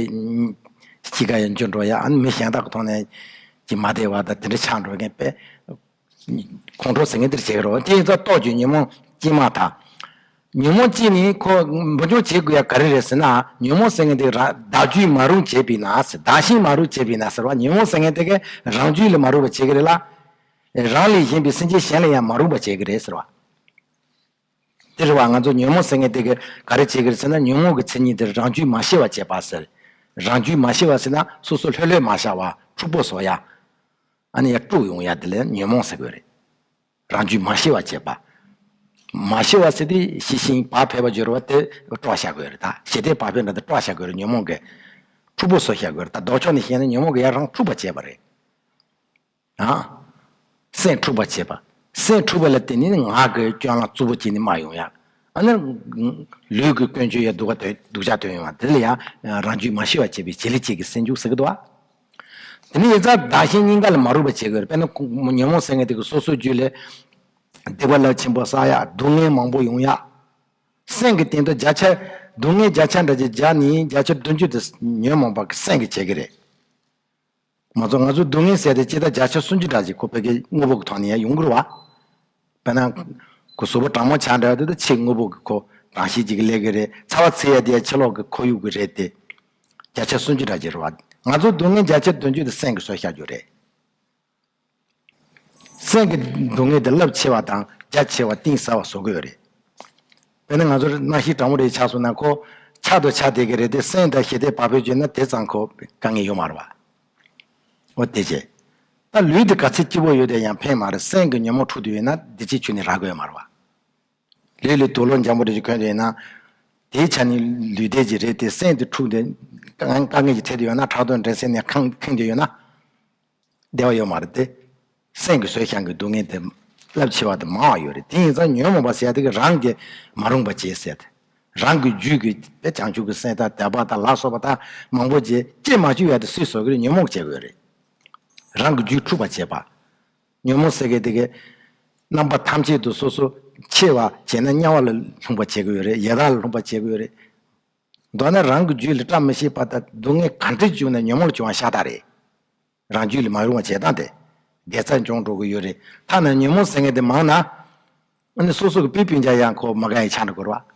[SPEAKER 1] དཔྱིད་ཀ་ཡང་འགྱུར་འགྲོ་ཡ། མི་གཞན་དག་གི་ཐོག་ནས་ཀྱི་མ་བདེ་བ་དང་དེ་འདྲ་ཆགས་འགྲོ་མཁན་པས། ཁོང་ཁྲོ་ཟེར་མཁན་འདིར་བྱེད་ཀྱི་རོ། དེའི་རྩ་རྟོག་གྱི་ཉོན་མོངས་སྤྱི་མ་དག། ཉོན་མོངས་སྤྱི་ནི་ཁོ་འབུར་འཇོག་བྱེད་དགོས་ཡ་ག་རེ་རེད་ཟེར་ན། ཉོན་མོངས་ཟེར་མཁན་དེ་བདག་རྒྱུད་མ་རུང་བྱེད་པས་ན་ཟེར། བདག་གཞན་མ་རུང་བྱེད་པས་ན་ཟེར་བ་ཉོན་མོངས་ཟེར་མཁན་དེ་གས་རང་རྒྱུད་ལས་མ་རུང་བ་བྱེད་ཀྱི་རེད་ལ། རང་ལས་གཞན་པའི་སེམས་ཅན་གཞན་ལས་ཡང་མ་རུང་བ་བྱེད་ཀྱི་རེད་ཟེར་བ། འདིར་བ་ང་ཚོ་ཉོན་མོངས་ཟེར་ངེས་དེ་ག་རེ་བྱེད་གིར་ཟེར་ན་ཉོན་མོངས་ཀྱི་མཚན་ཉིད་དེར་རང་རྒྱུད་མ་ཤེས་བ་བྱེད་པ་ཟེར། རང་རྒྱུད་མ་ཤེས་བ་ཟེར་ན་སོ་སོ་ལྷོད་ལྷོད་མ་ཤར་བ་འཁྲུག་པོ་བཟོ་ཡ། ཨ་ནི་ཡ་དཀྲུགས་ཡོང་ཡ་དེ་ལས་ཉོན་མོངས་ཟེར་དགོས་རེད། རང་རྒྱུད་མ་ཤེས་བ་བྱེད་པ། མ་ཤེས་བ་ཟེར་དུས་ཤེས་ཤིང་བག་ཕེབས་པ་སྦྱོར་བ་དེ་དཀྲོགས་ཤ་དགོས་རེད་ད་ཞེ་དེས་བག་ཕེབས་འདྲ་དེ་དཀྲོགས་ཤ་དགོས་རེད་ཉོན་མོངས་ཀྱི། འཁྲུག་པོ་བཟོ་ཤ་དགོས་རེད་ད་ལྡོག་ཕྱོགས་ནས་བཤད་ན་ཉོན་མོངས་ཀྱི་ཡ་རང་འཁྲུགས་པ་བྱེད་པ་རེད། སེམས་འཁྲུགས་པར་བྱེད་པ། སེམས་འཁྲུགས་པ་ལ་བརྟེན་ནས་ངག་གི་སྐྱོན་ལ་རྩུབ་པོ་བྱས་ནས་སྨྲ་ཡོང་ཡ། ཨ་ནི། ལུས་ཀྱི་ཀུན་སྤྱོད་ཡ་སྡུག་ཀ་སྡུག་ཅག་སྟོན་ཡོང་ཡ། དེ་ལ་ཡང་རང་རྒྱུད་མ་ཤི་བར་བྱེད་པའི་བྱེད་ལས་བྱེད་ཀྱི་སེམས་འཇུག་ཟེར་གི་འདུག་ཨ། དེ་ནི་ཡིག་ཚགས་བདག་གཞན་སྙིང་ག་ལ་མ་རུང་བར་བྱེད་དགོས། དཔེར་ན། ཉོན་མོངས་སེར་སྔས་དེ་གའི་སོ་སོའི་རྒྱུད་ལས། སྡིག་པ་རླབས་ཆེན་པོ་བསགས་ཡ་སྡུག་བསྔལ་མང་པོ་ཡོང་ཡ། སེམས་ཀྱི་སྟེང་དུ་བརྒྱ་ཆ། སྡུག་བསྔལ་བརྒྱ་ཆ་འདྲ་བྱེད་བརྒྱ་ནི་བརྒྱ་ཆ་བདུན་ཅུ་དེ་ཉོན་མོངས་པ་གི་སེམས་ཀྱིས་བྱེད་ཀྱི་རེད། མ་ཚོགས་ང་ཚོ་སྡུག་བསྔལ་ཟད་དེ་ལྕེ་བདག་བརྒྱ་ཆ་སུམ་ཅུ་དག་ཅིག་ཁོ་བོད་སྐད་དངོས་པོ་གི་ཐོག་ནས་ཡང་ཡོང་ཁུལ་བ། དཔེར་ན། ཁོ་བཟོ་བོ་དྲང་མོ་ཆགས་འདྲ་བ་དེ་དག་ཆེས་དངོས་པོ་གི་ཁོ་རང་ཤེས་ཀྱི་གི་ལས་ཀྱི་རེད་ཚ་བ་ཚེ་ཡ་དེ་ཡང་ཕྱི་ལོག་གི་ཁོར་ཡུག་གི་རེད་དེ། བརྒྱ་ཆ་སུམ་ཅུ་དག་ཅིག་རེད་བ། ང་ཚོ་སྡུག་བསྔལ་བརྒྱ་ཆ་བདུན་ཅུ་དེ་སེམས་ཀྱི་སྲོལ་ཤར་རྒྱུ་རེད། སེམས་ཀྱི་སྡུག་བསྔལ་དེ་རླབས་ཆེ་བ་དང་རྒྱ་ཆེ་བ་གཏིང་ཟབ་བ་བཟོ་གི་ཡོད་རེད། དཔེར་ན་ང་ཚོར་སྣང་བཞི་དྲང་པོ་རེ་ཆགས་སོང་ན་ཁོ་ཆགས་དང་ཆགས་བསྡད་ཀྱི་རེད་དེ་སེམས་དང་ཞི་བདེ་བག་ཕེབས་བརྗོད་ན་དེ་ཙམ་ཁོ་དཀའ་ངལ་ཡོད་མ་རེད་བ། འོ་དེ་ཅི། ད་ལུས་འདི་ག་ཚད་སྐྱིད་པོ་ཡོད་དེ་ཡང་ཕན་མ་རེད་སེམས་ཀྱི་ཉོན་མོངས་འཁྲུག་ཏུ་ཡོད་ན་འདི་ཅིག་ཆུ་ནས་རག་གི་ཡོད་མ་རེད་བ། ལུས་ལས་དུག་ལོག་འཇམ་པོ་རེ་ཅིག་གོན་དུ་ཡོད་ན། དེའི་ཆ་ནས་ལུས་བདེ་ཅིག་རེད་དེ་སེམས་དེ་འཁྲུག་དེ་དཀའ་ངལ་གྱི་ཐད་དུ་ཡོད་ན་ཁྲག་རྡོ་འདྲེན་སའི་ནས་ཁེངས་དུ་ཡོད་ན། བདེ་བ་ཡོད་མ་རེད་དེ། སེམས་ཀྱི་བཟོད་བྱང་གི་སྡུག་བསྔལ་དེ་རླབས་ཆེ་བ་དང་མང་བ་ཡོད་རེད་དེ་ཡིན་ཙང་ཉོན་མོངས་པ་ཟད་དེ་རང་གིས་མ་རུངས་པ་ཅེས་ཟེར། རང་གི་རྒྱུད་ཀྱི་དེ་བྱང་ཆུབ་ཀྱི་སེམས་དང་དད་པ་དང་ལ་སོགས་པ་དག་མང་པོ་རྗེས་སྐྱེས་མ་བཅོས་ཡ་དེ་སྲིད་བཟོ་གིར་ཉོན་མོངས་བྱེད་དགོས་རེད། རང་གི་རྒྱུད་འཁྲུགས་པར་བྱེད་པ། ཉོན་མོངས་ཟད་དེ་གི་རྣམ་པ་ཐམས་ཅད་དུ་སོ་སོ་ཕྱེ་བར་བྱེད་ན་དམྱལ་བ་ལ་ལྷུང་བར་བྱེད་དགོས་རེད་ཡི་དྭགས་ལ་ལྷུང་བར་བྱེད་དགོས་རེད། མདོར་ན་རང་གི་རྒྱུད་ལ་བཀྲ་མི་ཤིས་པ་དང་སྡུག་བསྔལ་ག་འདྲས་བྱུང་ན་ཉོན་མོངས་བྱུང་བ་ཤ་སྟག་རེད། རང་རྒྱུད་ལ་མ་རུང་བ་བྱེད་སྟངས་དེ་འགལ་ཚར་འབྱུང་འགྲོ་གི་ཡོད་རེད་ཐ་ན་ཉོན་མོངས་ཟེར་མཁན་དེ་མང་ན། ཨ་ནི་སོ་སོ་གི་པི་པིན་ཅག་ཡང་ཁོ་མ་ག་ཡི་ཆ་འདྲ་གོ་རོགས།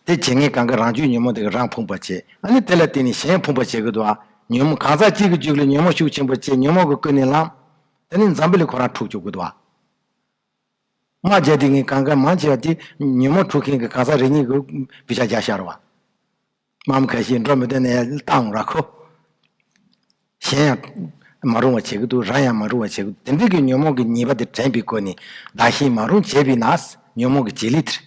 [SPEAKER 1] དེ་བྱེད་མཁན་གང་གི་རང་རྒྱུད་ཉོན་མོངས་དེ་གི་རང་ཕུང་བར་བྱེད་ཨ་ནི་དེ་ལ་བརྟེན་ནས་གཞན་ཕུང་བར་བྱེད་གི་འདུག་ཨ། ཉོན་མོངས་གང་ཟག་གཅིག་གི་རྒྱུད་ལ་ཉོན་མོངས་ཤུགས་ཆེན་པོ་བྱས་ཉོན་མོངས་ཀྱི་ཀུན་ནས་ལངས། དེ་ནས་འཛམ་བུ་ལས་ཁོ་རང་འཁྲུགས་བཅུག་གི་འདུག་ཨ། སྔ་རྗེས་དེ་གཉིས་གང་གཱའི་མང་ཆེ་བ་དེ་ཉིན་མོ་འཁྲུག་མཁན་གྱི་གང་ཟག་རེ་གཉིས་ཀྱི་བུ་ཆ་རྒྱ་ཤར་བ། འམ་ག་ཞིག་འགྲོ་མི་འདོད་ན་ཡང་བཏང་ར་ཁོ། གཞན་ཡང། མ་རུང་བ་བྱེད་ཀྱི་འདུག་རང་ཡང་མ་རུང་བ་བྱེད་ཀྱི་འདུག་དེ་འདྲ་གྱི་ཉོན་མོངས་ཀྱི་ཉེས་པ་དེ་དྲན་པའི་སྒོ་ནས་བདག་གཞན་མ་རུང་བྱས་པས་ན་ཉོན་མོངས་ཀྱི་བྱེད་ལས་དེར།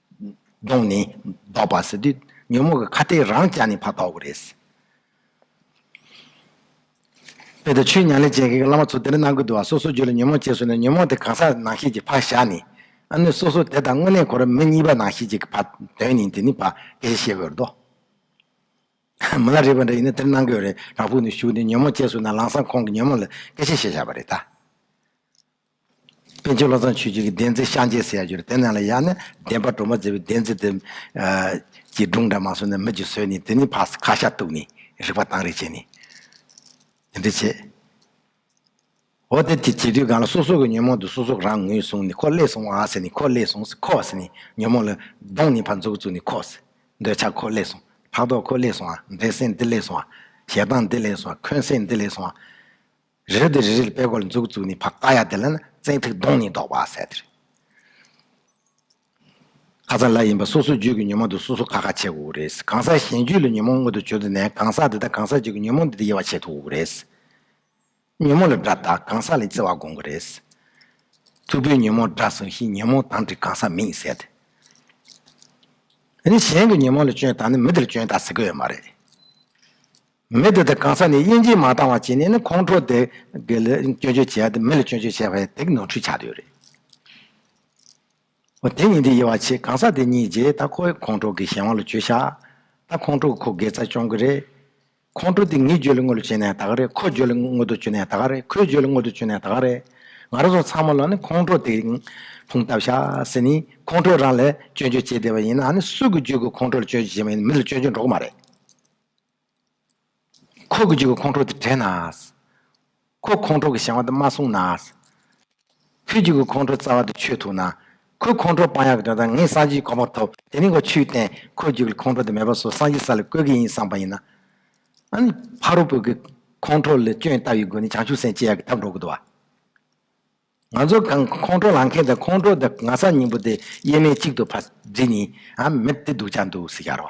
[SPEAKER 1] གདོང་ནི་ལྡོག་པ་ཟེར་དུས་ཉོན་མོངས་ཀྱི་ཁ་ཏའི་རང་ཅག་ནི་ཕ་ཐོགས་པ་རེད། དཔེ་ལྟར་ཆོས་ཉན་ལས་ཅན་གྱི་བླ་མ་ཚོ་དེ་འདྲ་གནང་གི་འདུག་ཨ་སོ་སོ་རྒྱུད་ལ་ཉོན་མོངས་སྐྱེས་སོང་ན་ཉོན་མོངས་དེ་གང་ཟག་ནང་ཤེས་ཀྱི་ཕ་བཞག་ནི། ཨ་ནུས་སོ་སོ་དེ་དང་དངོས་གནས་གོ་ར་མི་གཉིས་པ་ནང་ཤེས་ཀྱི་ཕ་དོན་ནི་དེ་ནི་ཕ་དེ་ཞེས་བཤད་དགོས་རེད་དོ། མི་ལ་རེ་བ་འདྲ་ཡིན་ན་དེ་འདྲ་གནང་གི་ཡོད་རེད་རང་ཕུག་ནས་ཞུགས་ནས་ཉོན་མོངས་སྐྱེས་སོང་ན་ལང་སང་ཁོང་གི་ཉོན་མོངས་ལ་སྐད་ཆ་བཤད་བཞག་པ་རེད་ད། པཎ་ཆེན་བློ་བཟང་ཆོས་རྒྱལ་གྱི་བདེན་རྩིས་ཤངས་ཆེན་ཟེར་ཡག་རྒྱུ་རེད་དེ་ནང་ལ་ཡག་ནི་བདེན་པ་སྒྲོག་མ་མཛད་པའི་བདེན་རྩིས་དེ། ཀྱི་སྒྲུང་འདྲ་མང་བཟོས་ནས་མི་རྒྱུད་བཟོས་ནས་དེ་ནི་ཕ་ས་ཁ་ཤ་གཏུགས་ནས་རིག་པ་དྭངས་རིག་བྱས་ནས། དེ་འདྲ་བྱས། འོ་དེ་དེ་བྱེད་དུས་གང་ལ་སོ་སོ་གི་ཉོན་མོངས་དེ་སོ་སོ་རང་ངོས་བཟུང་ནས་ཁོ་བསླད་སོང་ཨ་ཟེར་ནས་ཁོ་བསླད་སོང་ཟེར་ཁོ་བ་ཟེར་ནས་ཉོན་མོངས་ལ་གདོང་ནས་ཕར་འཛུགས་བཙུགས་ནས་ཁོ་ཟེར། འདོད་ཆགས་ཁོ་བསླད་སོང་ཕྲག་དོག་ཁོ་བསླད་སོང་ཨ་འདོད་སེམས་འདི་བསླད་སོང་ཨ་ཞེ་སྡང་འདི་བསླད་སོང་ཨ་འཁོན་སེམས་འདི་བསླད་སོང་ཨ། རི་རབ་དེ་རི་རིལ་པའི་སྒོར་འཛུགས་བཙུགས་ནས་བག་ཡ་དེ་ལ་ན་བཙན་ཐིག་བརྡུངས་ནས་བཟློག་པ་ཟེར་ཏེ། ཁ་ཚ་ལ་ཡིན་པ་སོ་སོའི་རྒྱུད་ཀྱི་ཉོན་མོངས་དེ་སོ་སོ་ཁ་ཁ་བྱེད་དགོས་རེད། གང་ཟག་གཞན་རྒྱུད་ལ་ཉོན་མོངས་མངོན་དུ་བྱོས་དུས་ན་གང་ཟག་དེ་དག་གང་ཟག་རྒྱུད་ཀྱི་ཉོན་མོངས་འདི་དང་དབྱེ་བ་ཕྱེད་ཐུབ་རེད། ཉོན་མོངས་ལ་སྒྲ་བཏགས་གང་ཟག་ལས་བརྩི་བར་དགོངས་ཀྱི་རེད། ཐུ་བོས་ཉོན་མོངས་སྒྲ་ཟུང་ཤིག་ཉོན་མོངས་དང་དྲི་གང་ཟག་མིན་ཟེར་ཏེ། དེ་ནས་གཞན་གྱི་ཉོན་མོངས་ལ་སྐྱོན་བཏགས་ནས་མི་དེ་ལ་སྐྱོན་བཏགས་ཟེར་གྱི་ཡོད་མ་རེད། མི་དེ་དག་གང་ས་ནས་དབྱེ་འབྱེད་མ་བཏང་བར་བྱས་ནས་ནི་ཁོང་ཁྲོ་དེ་དགེ་ལས་སྐྱོན་བརྗོད་བྱས་དང་མི་ལ་སྐྱོན་བརྗོད་བྱས་པ་ཡང་དེ་གི་ནོར་འཁྲུལ་ཆགས་དུས་རེད། འོ་དེ་གཉིས་དེ་དབྱེ་བ་ཕྱེས་གང་ས་དེ་གཉིས་རྗེས་ད་ཁོ་ཡི་ཁོང་ཁྲོ་གི་གཞན་དབང་ལ་བྱོས་ཤག་ད་ཁོང་ཁྲོ་གི་ཁོ་དགེ་རྩ་སྐྱོང་གི་རེད། ཁོང་ཁྲོ་དེ་ངའི་རྗོད་ལ་དངོས་ལ་བྱོས་ན་ཡང་ད་ག་རེད་ཁོ་རྗོད་ལ་དངོས་དུ་བྱོས་ན་ཡང་ད་ག་རེད་ཁོའི་རྗོད་ལ་དངོས་དུ་བྱོས་ན་ཡང་ད་ག་རེད། ང་རང་ཚོ་ཚང་མ་ལ་ནི་ཁོང་ཁྲོ་དེ་ཕུང་བཏབ་ཤག་ཟེར་ནས་ཁོང་ཁྲོ་རང་ལ་སྐྱོན་བརྗོད་བྱས་བསྡད་པ་ཡིན་ནའང་ནི་སུ་གི་རྗོད་ཀྱི་ཁོང་ཁྲོ་ལ་སྐྱོན་བརྗོད་བྱས་པ་ཡིན་ན་མི་ལ་སྐྱོན་བརྗོད་འགྲོ་གི་མ་རེད། ཁོ་གི་རྒྱུད་ཀྱི་ཁོང་ཁྲོ་དེ་དྲན་ན། ཁོ་ཁོང་ཁྲོ་གི་བྱ་བ་དེ་མ་བསྲུངས་ན། ཁོའི་རྒྱུད་ཀྱི་ཁོང་ཁྲོ་རྩ་བ་དེ་ཆོད་ཐུབ་ན། ཁོའི་ཁོང་ཁྲོ་དཔང་ཡག་གི་དོན་དག་ངས་སངས་རྒྱས་གོང་མ་ཐོབ་དེ་ནས་ཁོ་ཆོས་བསྟན་ཁོའི་རྒྱུད་ཀྱི་ཁོང་ཁྲོ་དེ་མེད་པ་སོགས་སངས་རྒྱས་ས་ལ་བཀོད་གི་ཡིན་བསམ་པ་ཡིན་ན། ཨཱ། ཕ་རོལ་པོ་གི་ཁོང་ཁྲོ་ལས་སྐྱོན་ལྟ་བའི་སྒོ་ནས་བྱང་ཆུབ་སེམས་བསྐྱེད་ཡག་གི་ཐབས་འགྲོ་གི་འདུག་བ། ང་ཚོ་གང་ཁོང་ཁྲོ་ལང་མཁན་དང་ཁོང་ཁྲོ་དང་ང་ས་སྙིང་པོ་དེ་དབྱེར་མེད་གཅིག་ཏུ་ཕ་རྫི་ནི་ཨཱ། མི་དེ་སྡུག་ཅག་འདུག་ཟེར་གྱར་བ།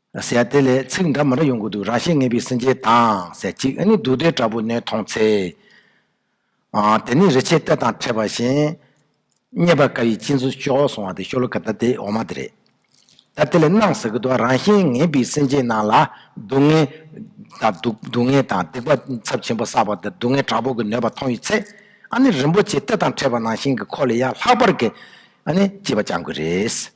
[SPEAKER 1] ཟེར་དེ་ལས་ཚིག་འདྲ་མི་འདྲ་ཡོང་གི་འདུག་རང་ཤེད་ངེས་པའི་སེམས་ཅན་དང་ཟེར་གཅིག་ཨ་ནི་དུག་སྡེར་འདྲ་པོ་ནད་མཐོང་ཚེ། དེ་ནི་རི་ཕྱེད་གཏེར་དང་འཕྲད་པ་བཞིན། རྙེད་པར་དཀའ་བའི་སྤྱིན་ཟུར་ཤོག་སོང་བ་དེ་ཤོ་ལོ་ཀ་ལྟར་དེ་འོ་མ་དེ་རེད། ད་དེ་ལས་སྣང་ཟེར་གི་འདུག་རང་ཤེད་ངེས་པའི་སེམས་ཅན་རྣམས་ལ་སྡུག་བསྔལ། སྡུག་བསྔལ་དང་སྡིག་པ་ཚབས་ཆེན་པོ་བསགས་པ་དེར་སྡུག་བསྔལ་དྲག་པོ་གི་ནད་པ་མཐོང་ཡོད་ཚེ། ཨ་ནི་རིན་པོ་ཆེ་གཏེར་དང་འཕྲད་པ་ནང་བཞིན་གྱི་ཁོག་ལས་ཡར་ལྷག་པར་གྱི། ཨ་ནི་སྐྱིད་པ་བཅང་དགོས་རེད།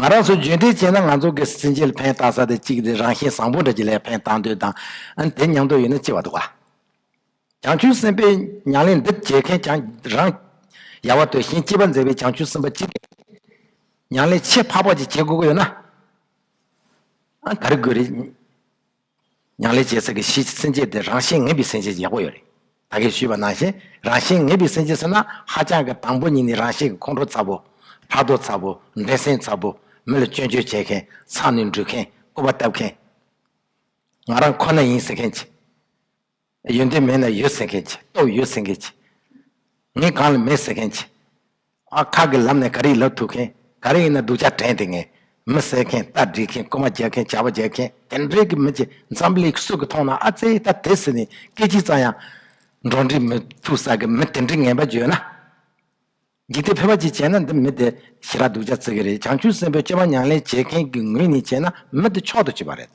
[SPEAKER 1] ང་རང་ཚོས་རྒྱུན་འབྲས་ཅན་ན་ང་ཚོ་གིས་སྲིན་བྱའི་ལྷ་ཕན་བཏགས་ས་དེ་གཅིག་དེ་རང་བཞིན་བཟང་པོ་འདྲ་གྱི་ལྷའི་ཕན་བཏགས་འདོད་དང། ཨ་དེ་མྱང་འདོད་ཡོད་ན་ལྕི་བ་འདུག་ག། བྱང་ཆུབ་སེམས་དཔའི་མྱང་ལེན་འདི་མཇལ་མཁན་ཀྱང་རང། ཡལ་བ་དོད་ཞེན་སྐྱེས་པ་མཛད་པའི་བྱང་ཆུབ་སེམས་དཔའ་ཅི་འདྲ་ཞིག། མྱང་ལེན་ཆེས་འཕགས་པ་ཅིག་བྱེད་དགོས་ཀྱི་ཡོད་ན། ཨ་ག་རེ་དགོས་རེད། མྱང་ལེ་རྗེ་སེ་གེ་ཞེས་སེམས་བསྐྱེད་དེ་རང་བཞིན་ངེས་པའི་སེམས་བསྐྱེད་ཡག་པོ་ཡོད་རེད། ད་གིས་ཞུས་པ་ནང་བཞིན་རང་བཞིན་ངེས་པའི་སེམས་བསྐྱེད་ཟེར་ན་ཧ་ཅང་གི་དང་པོ་གཉིས་ནི་རང་བཞིན་གྱི་ཁོང་ཁྲོ་ཚ་པོ། ཕྲག་དོག་ཚ་པོ། འགྲན་སེམས་ཚ་པོ། མི་ལ་སྐྱོན་བརྗོད་བྱེད་མཁན། ཚང་ནས་འདྲུད་མཁན། རྐུ་བ་བཏབ་མཁན། ང་རང་ཁོ་ན་ཡིན་ཟེར་མཁན། ཡོན་ཏན་མེད་ན་ཡོད་ཟེར་མཁན་གྱི་སྟོབས་ཡོད་ཟེར་མཁན་གྱི། ངས་གང་ལ་མེད་ཟེར་མཁན་གྱི། ཨ་ཁ་གི་ལམ་ནས་ག་རེ་ལབ་ཐུབ་མཁན་ག་རེ་ཡིན་ན་སྡུག་ཅག་དྲན་དེ་ངས་མི་བསད་མཁན་རྟ་བསྒྲིགས་མཁན་རྐུ་མ་རྒྱག་མཁན་བྱ་བ་རྒྱག་མཁན་དེ་འདྲའི་གི་མི་གྱི་འཛམ་བུ་ལེགས་སུ་གི་མཐོང་ན་ཨ་ཙེ་ད་དེ་ཟེར་ནས་སྐད་ཅིག་ཙང་ཡང་འགྲོ་འདྲི་མི་ཐུབ་ས་གི་མི་དེ་འདྲའི་ངན་པ་བརྗོད་ན། འཇིག་རྟེན་ཕལ་བ་ཅིག་བྱས་ན་འདི་མི་དེ་ཞི་རགས་སྡུག་ཅག་བརྩི་གི་རེད་བྱང་ཆུབ་སེམས་དཔའི་སྤྱོད་པ་མྱང་ལེན་བྱེད་མཁན་གྱི་ངོས་ནས་བྱས་ན་མི་དེ་མཆོག་ཏུ་བྱེད་པ་རེད།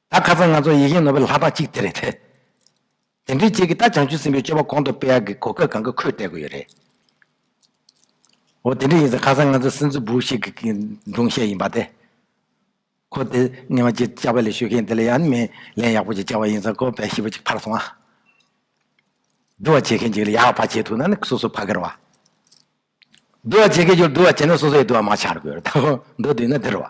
[SPEAKER 1] ད་ཁ་སང་ང་ཚོ་ཡིག་རྒན་ནོ་བེལ་ལྷ་བདག་ཅིག་དེ་རེད་དེ། དེ་འདྲའི་ཅིག་གིས་ད་བྱང་ཆུབ་སེམས་པའི་སྤྱོད་པ་གོང་དུ་སྤེལ་ཡག་གི་གོ་སྐབས་གང་གི་ཁོས་བལྟས་དགོས་ཡོད་རེད། འོ་དེ་འདྲ་ཡིན་ཚེ་ཁ་སང་ང་ཚོའི་སེམས་གཙོ་བུ་ཞིག་གི་སྒྲུང་བཤད་ཡིན་པ་དེ། ཁོ་དེ་སྙན་བ་ཅིག་བཅའ་བ་ལས་ཞུ་མཁན་དེ་ལ་ཡང་ནི་མི་ལན་ཡག་པོ་ཅིག་བཅའ་བ་ཡིན་ཚེ་ཁོ་བལ་ཤི་བ་ཅིག་ཕར་སོང་ཨ། བསྡུ་བ་བྱེད་མཁན་ཅིག་ལ་ཡག་བ་བྱེད་ཐུབ་ན་ནི་སོ་སོ་ཕ་གིར་བ། བསྡུ་བ་བྱེད་མཁན་ཅིག་ལ་བསྡུ་བ་བྱེད་ན་སོ་སོ་ཡི་བསྡུ་བ་མ་ཆགས་དགོས་རེད་ད། མདོ་བསྡུས་ན་དེ་རུ་བ།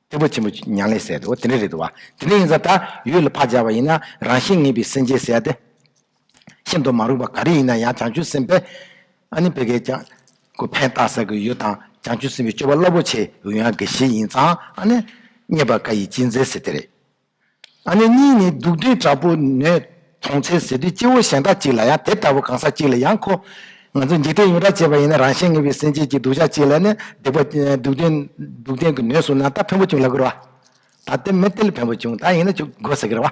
[SPEAKER 1] སྟེགས་བུ་ཆེན་པོ་མྱང་ལས་གསལ་ཏེ་འོ་དེ་འདྲ་རེད་འདུག་བ། དེ་འདྲ་ཡིན་ཙང་ད་ཡོད་ལ་ཕར་སྦྱར་བ་ཡིན་ན་རང་བཞིན་ངེས་པའི་སེམས་ཅན་གསལ་ཏེ། ཤིན་ཏུ་མ་རུངས་པ་ག་རེ་ཡིན་ན་ཡང་བྱང་ཆུབ་སེམས་དཔའི། ཨ་ནི་བད་ཀན་ལྕགས། ཀུ་ཕན་བཏགས་ཟ་གི་ཡོད་དང་བྱང་ཆུབ་སེམས་དཔའི་སྤྱོད་པ་རླབས་པོ་ཆེ་འོད་ཡངས་དགེ་བཤེས་ཡིན་ཙང་ཨ་ནི། རྙེད་པར་དཀའ་ཡི་སྤྱིའི་མཛད་ཟེར་དེ་རེད། ཨ་ནེ་གཉིས་ནི་སྡུག་འདྲེ་དྲག་པོ་ནས་དོང་ཚེ་ཟེར་དུས་སྐྱེ་བོ་གཞན་དག་ཅིག་ལ་ཡང་དེ་ལྟ་བུ་གང་ཟག་ཅིག་ལ་ཡང་ཁོ། ང་ཚོ་འཇིག་རྟེན་ཡོངས་གྲགས་ཅེས་པ་ཡིན་ན་རང་གཞན་ངེས་པའི་སེམས་ཅན་གྱི་སྡུག་ཅག་ཅིག་ལ་ནི་སྡིག་པ། སྡུག་བདེན། སྡུག་བདེན་གྱི་ནུས་སུ་ན་ད་ཕན་པོ་བྱུང་ལབ་གི་རོ། ད་དེ་མི་དེ་ལ་ཕན་པོ་བྱུང་ད་ཡིན་ན་ཆུ་འགོ་ཟེར་གི་རོ།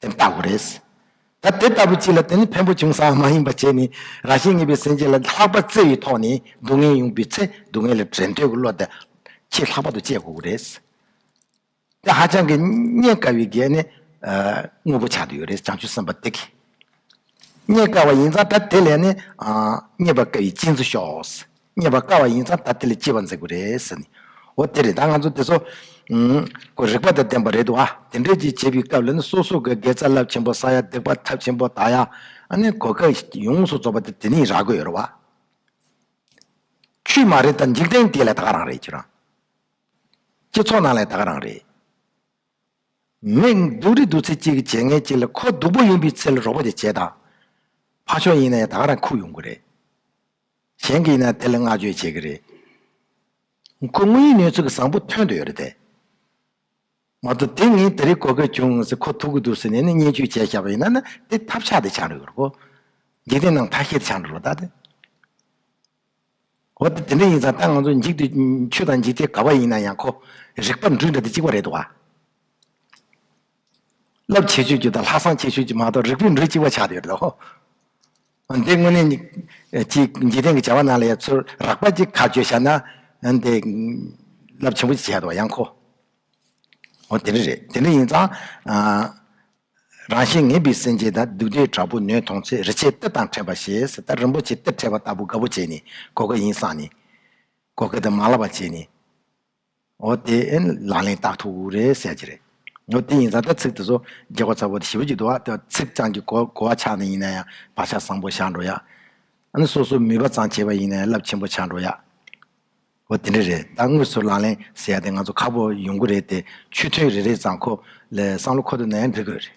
[SPEAKER 1] དེ་ལྟ་བུ་རེད། ད་དེ་ལྟ་བུ་གཅིག་ལ་དེ་ནི་བེམ་པོ་བྱུང་སའང་མ་ཡིན་པ་བྱས་ནས་རང་བཞིན་ངེས་པའི་སེམས་ཅན་ལ་ལྷག་པར་བརྩེ་བའི་ཐོག་ནས་སྡུག་བསྔལ་ཡོང་དུས་ཚེ་སྡུག་བསྔལ་ལ་བྲལ་འདོད་ཀྱི་བློ་དེ་ཆེས་ལྷག་པར་དུ་སྐྱེ་དགོས་པ་རེད། དེ་ཧ་ཅང་གི་རྙེད་དཀའ་བའི་གལ་ནི་དངོས་པོ་ཆགས་དུས་ཡོད་རེད་བྱང་ཆུབ་སེམས་དཔའ་དེ་གིས་རྙེད་དཀའ་བ་ཡིན་ཙང་ད་དེ་ལས་ནི་རྙེད་པར་དཀའ་བའི་སྤྱིན་ཚུལ་ཤོག། རྙེད་པར་དཀའ་བ་ཡིན་ཙང་ད་ལྟ་ལས་སྐྱེས་པ་འཛེག་པ་རེད། འོ་དེ་རེད་ད་ང་ཚོ་དེ་ཚོ། ཁོ་རིག་པ་དང་ལྡན་པ་རེད་འདུག་ཨ། དེ་འདྲས་ཀྱི་བྱས་པའི་སྐབས་ལ་ནི་སོ་སོ་གི་དགེ་རྩ་རླབས་ཆེན་པོ་ས་ཡ་བརྡེག་པ་ཐབས་ཆེན་པོ་དག་ཡ། ཨ་ནི་གོ་སྐབས་ཡོངས་སུ་རྫོགས་པ་དེ་དེ་ནས་རག་གི་ཡོད་རེད་བ། ཆུད་མ་རེད་ད་འཇིག་རྟེན་དེ་ལས་ད་ག་རང་རེད་ཁྱོད་རང། སྤྱི་ཚོགས་ནང་ལས་ད་ག་རང་རེད། མིག་སྡུག་རི་སྡུག་ཚེ་གཅིག་གི་བྱས་ངན་གཅིག་ལ་ཁོ་སྡུག་པོ་ཡིན་པའི་ཚེ་ལ་རོགས་པ་དེ་བྱས་དང། ཕ་ཆོག་ཡིན་ན་ཡང་ད་ག་རང་ཁུག་ཡོང་གི་རེད། གཞན་གྱིས་ན་དེ་ལ་བསྔགས་བརྗོད་བྱེད་ཀྱི་རེད། ཁོ་དངོས་ཡིན་ནུས་ཚོད་བཟང་པོ་ཐོན་དུ་ཡོད་རེད་དེ། མ་གཏོགས་དེ་ངས་དེ་རིགས་གོ་སྐབས་བྱུང་ཟིན་ཁོ་ཐུག་གི་འདུག་ཟེར་ནས་ནི་བརྙས་བཅོས་བྱས་བཞག་པ་ཡིན་ན་ནི་དེ་ཐབས་ཆག་དེ་ཆག་འགྲོ་གི་རེད་གོ། འཇིག་རྟེན་ནང་ཐ་ཤལ་དེ་ཆག་འགྲོ་ལ་དྭ་དེ། འོ་དེ་དེ་འདྲ་ཡིན་ཙང་ད་ང་ཚོ་འཇིག་དུས་ཆུ་དང་འཇིག་རྟེན་ག་བ་ཡིན་ན་ཡང་ཁོ་རིག་པ་འདྲུད་འདྲ་དེ་གཅིག་པ་རེད་དོ་བ། རླབས་ཆེ་ཆོས་ཀྱི་དང་ལྷག་བསམ་ཆེ་ཆོས་ཀྱི་མ་གཏོགས་རིགས་པའི་འགྲོས་གཅིག་པ་ཆགས་ཡོད་དོ། འདི་དངོས་གནས་ནི། ཅི་འཇིག་རྟེན་གྱི་བྱ་བ་རྣམས་ལ་ཡང་ཚུར་རགས་པ་ཅིག་ཁ་བརྗོད་བྱ་ན། འདི། རླབས་ཆེན་པོ་ཅིག་བྱས་འདུག་བ་ཡང་ཁོ། འོ་དེ་འདྲ་རེད་དེ་འདྲ་ཡིན་ཙང། རང་བཞིན་ངེས་པའི་སེམས་ཅན་དང་སྡུག་འདྲེས་དྲག་པོ་ནོས་མཐོང་ཚེ་རི་ཆད་གཏེར་དང་ཕྲད་པ་ཞེས་སྲི་ད་རིན་པོ་ཆེ་གཏེར་ཕྲད་པ་ལྟ་བུ་དགའ་བོ་བྱས་ནས་གོ་དགའ་ཡིན་བསམ་ནས། གོ་དགའ་དང་མ་ལགས་པ་བྱས་ནས། འོ་དེ་ཨེ་ལག་ལེན་བརྟག་ཐུག་རེད་བསད་ཀྱི་རེད། འོ་དེ་ཡིན་ཙང་ད་ཚིག་དེ་ཚོ་རྒྱལ་བ་ཚ་བོ་དེ་ཞི་བོ་གཅིག་འདུག་བ་དེ་ཚིག་ཙང་གི་གོ་བ་ཆག་ནི་ཡིན་ན་ཡང་བག་ཆག་བཟང་པོ་བཞག་འགྲོ་ཡ། ཨ་ནི་སོ་སོ་མུས་པ་ཙང་བྱེད་པ་ཡིན་ན་ཡང་རླབས་ཆེན་པོ་ཆག་འགྲོ་ཡ། འོ་དེ་འདྲ་རེད་ད་དངོས་སུ་ལག་ལེན་བསད་ཡ་དེ་ང་ཚོ་ཁག་པོ་ཡོང་གི་རེད་དེ་ཆུ་ཐོན་རེ་རེ་ཙང་ཁོ་ལས་སང་ལོ་ཁོ་ཐོན་ན་ཡང་འགྲིག་དགོས་རེད།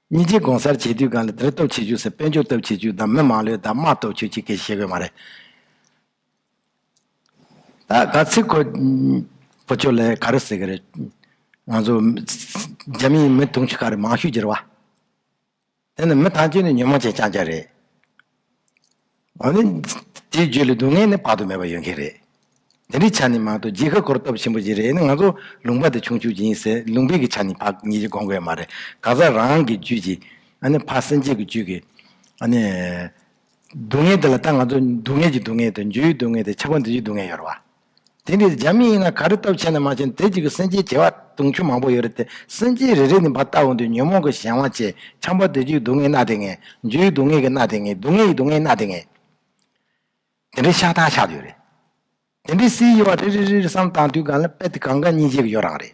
[SPEAKER 1] གཉིས་ཆེ་དགོངས་སར་བྱེད་དུས་གང་ལ་དེར་སྟོབས་ཆེ་བྱུས་སུ་དཔལ་འབྱོར་སྟོབས་ཆེ་བྱུས་དང་མི་མང་ལོས་དག་དམག་སྟོབས་ཆེ་བྱུས་ཁས་བཞེས་དགོས་མ་རེད། ད་ག་ཚིག་གོ། བུ་ཁྱོད་ལ་ག་རེ་ཟེར་གི་རེད། ང་ཚོ། རྒྱ་མིའི་མི་དུང་ཕྱུར་ཁ་རེ་མང་ཤོས་གྱི་རེད་བ། དེ་ནི་མི་ཐམས་ཅད་ནི་ཉོན་མོངས་ཅན་རྐྱང་རྐྱང་རེད། འོན་ཏེ། དེའི་རྒྱུ་ལས་སྡུག་བསྔལ་ནི་དཔག་ཏུ་མེད་པ་ཡོད་མཁན་རེད། འདི་འདྲའི་ཆ་ནས་མ་གཏོགས་རྗེས་ཁ་འཁོར་སྟོབས་ཆེན་པོ་ཞིག་རེད་ནི་ང་ཚོ་ལུང་པ་དེ་ཆུང་ཆུང་ཞིག་ཡིན་ཟེར་ལུང་པའི་གི་ཆ་ནས་ཕག་གཉིས་ཀྱིས་དགོངས་དགོས་ཡ་མ་རེད་གང་ཟག་རང་གི་རྒྱུད་ཀྱིས་ཨ་ནི་ཕག་སེམས་ཅན་གྱི་རྒྱུད་ཀྱིས་ཨ་ནི། སྡུག་བསྔལ་དེ་ལ་ད་ང་ཚོ་སྡུག་བསྔལ་གྱི་སྡུག་བསྔལ་དང་རྒྱུའི་སྡུག་བསྔལ་དང་ཆགས་པ་འདི་བཞིན་སྡུག་བསྔལ་ཡོད་རེད་བ། དེ་འདྲའི་འཇམ་དབྱངས་ཡིན་ན་ག་རེ་སྟོབས་ཆེ་ན་མ་ཆེ་ན་དེ་གཅིག་གིས་སེམས་ཅན་བྱེ་བ་དུང་ཕྱུར་མང་པོ་ཡོད་རེད་དེ་སེམས་ཅན་རེ་རེ་ནི་འབའ་ལྟ་བུ་འདུས་ཉོན་མོངས་ཀྱི་གཞན་དབང་ཆེ་ཆང་པ་དུད་ཅིག་སྡུག་བསྔལ་སྣ་དེ་ངན་འཇུ་ཡི་སྡུག་བསྔལ་གྱི་སྣ་དེ་ངན་སྡུག་བསྔལ་གྱི་སྡུག་བསྔལ་སྣ་དེ་ངན། དེ་འདྲའི་ཤ་ཐང་ཆགས་ཡོད་རེད། དེ་འདྲའི་སའི་དབྱེ་བ་རེ་རེ་རེ་རེ་བསམ་བཏང་དུས་གང་ལ་དཔེ་དེ་གང་ག་གཉིས་བྱེད་ཀྱི་ཡོད་རང་རེད།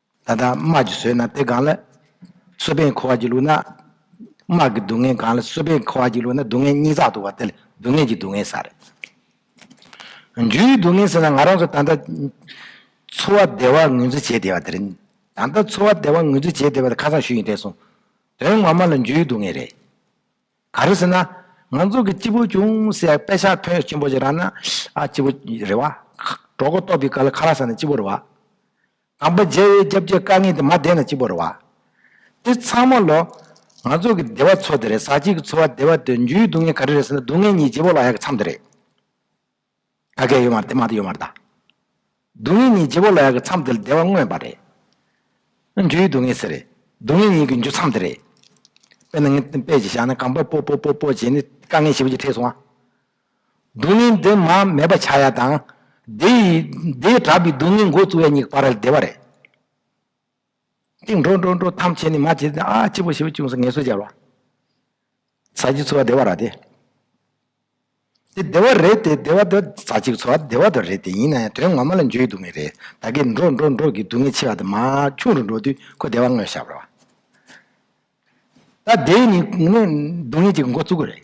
[SPEAKER 1] ད་ལྟ་དམག་གིས་ཟོས་ན་དེ་གང་ལ། གསོད་པས་འཁོར་བར་གྱི་ལུགས་ན། དམག་གི་སྡུག་བསྔལ་གང་ལ་གསོད་པས་འཁོར་བར་གྱི་ལུགས་ན་སྡུག་བསྔལ་གཉིས་རྩག་ཏུ་བ་དེ་ལ་སྡུག་བསྔལ་གྱི་སྡུག་བསྔལ་ཟེར། རྒྱུའི་སྡུག་བསྔལ་ཟེར་ན་ང་རང་ཚོ་ད་ལྟ། འཚོ་བ་བདེ་བར་ངོས་འཛིན་བྱས་བསྡད་པ་དེ་རེད། ད་ལྟ་འཚོ་བ་བདེ་བར་ངོས་འཛིན་བྱས་བསྡད་པ་དེ་ཁ་སང་ཞུས་ཡིན་བསྡད་སོང། དོན་ངོ་མ་ལ་རྒྱུའི་སྡུག་བསྔལ་རེད། ག་རེ་ཟེར་ན། ང་ཚོ་གི་སྤྱི་བོ་ཅུང་ཟད་དཔེ་ཆ་ཐོན་ཆེན་པོ་ཞིག་རག་ན། ཨ་སྤྱི་བོ་རེད་བ། གྲོགས་པོ་ལྟོགས་པའི་སྐབས་ལ་ཁ་ལག་ཟ་ན་སྤྱི་བོ་རེད་བ། དང་པོ་མཇལ་བའི་སྐྱབས་ཀྱི་དཀའ་ངལ་དེ་མ་བདེན་ལ་གཅིག་པུར་རེ་བ། འདི་ཚང་མ་ལོ། ང་ཚོ་གི་བདེ་བ་འཚོ་དེ་རེད་ཟ་བྱེད་ཀྱི་འཚོ་བ་བདེ་བ་དེ་འཇུའི་སྡུག་བསྔལ་ག་རེ་རེད་ཟེར་ན་སྡུག་བསྔལ་གཉིས་རྗེ་བོ་ལ་ཡག་གི་མཚམས་དེ་རེད། དགའ་སྐལ་ཡོད་མ་རེད་དེ་མ་རེད་ཡོད་མ་རེད་ད། སྡུག་བསྔལ་གཉིས་རྗེ་བོ་ལ་ཡག་གི་མཚམས་དེ་ལ་བདེ་བ་མངོན་པ་རེད། ནི་འཇུའི་སྡུག་བསྔལ་ཟེར། སྡུག་བསྔལ་གཉིས་ཀྱི་འཇུ་མཚམས་དེ་རེད། དཔེར་ན་ངས་དཔེ་ཅིག་བཞག་ན་གངས་པ་སྤོ་སྤོ་སྤོ་སྤོ་བྱས་ནས་དཀའ་ངལ་ཞིག་པོ་ཅིག་འཕྲད་སོང་ང། སྡུག་བསྔལ་འདི་མ་མེད་པ་བྱ་ཡ་དང། དེས་དྲག་པའི་སྡུག་བསྔལ་མགོ་བཙུགས་ཡ་གཉིས་ཀ་པར་རལ་བདེ་བ་རེད། ཅིག་འགྲོ་འགྲོ་འགྲོ་ཐམས་ཅད་ནི་མ་བྱས་ཏེ་ཨ་ཅེ་པོ་ཞེ་པོ་ཅུང་ཟད་ངལ་གསོ་སྦྱར་བ། ཟ་བྱེད་འཚོ་བ་བདེ་བ་ར་དེ། དེ་བདེ་བ་རེད་དེ་བདེ་བ་དེ་ཟ་བྱེད་འཚོ་བ་བདེ་བ་དོ་རེད་དེ་ཡིན་ན་ཡང་དོན་ངོ་མ་ལ་འཇོན་ཡོད་དུ་མེད་རེད་ད་གིན་འགྲོ་འགྲོ་འགྲོ་གིས་སྡུག་བསྔལ་ཆེ་བ་དང་མ་ཆུང་རུ་འགྲོ་དུས་ཁོ་བདེ་བ་དངོས་ཤར་བར་བ། ད་དེས་ནི་སྡུག་བསྔལ་གྱི་མགོ་བཙུགས་གི་རེད།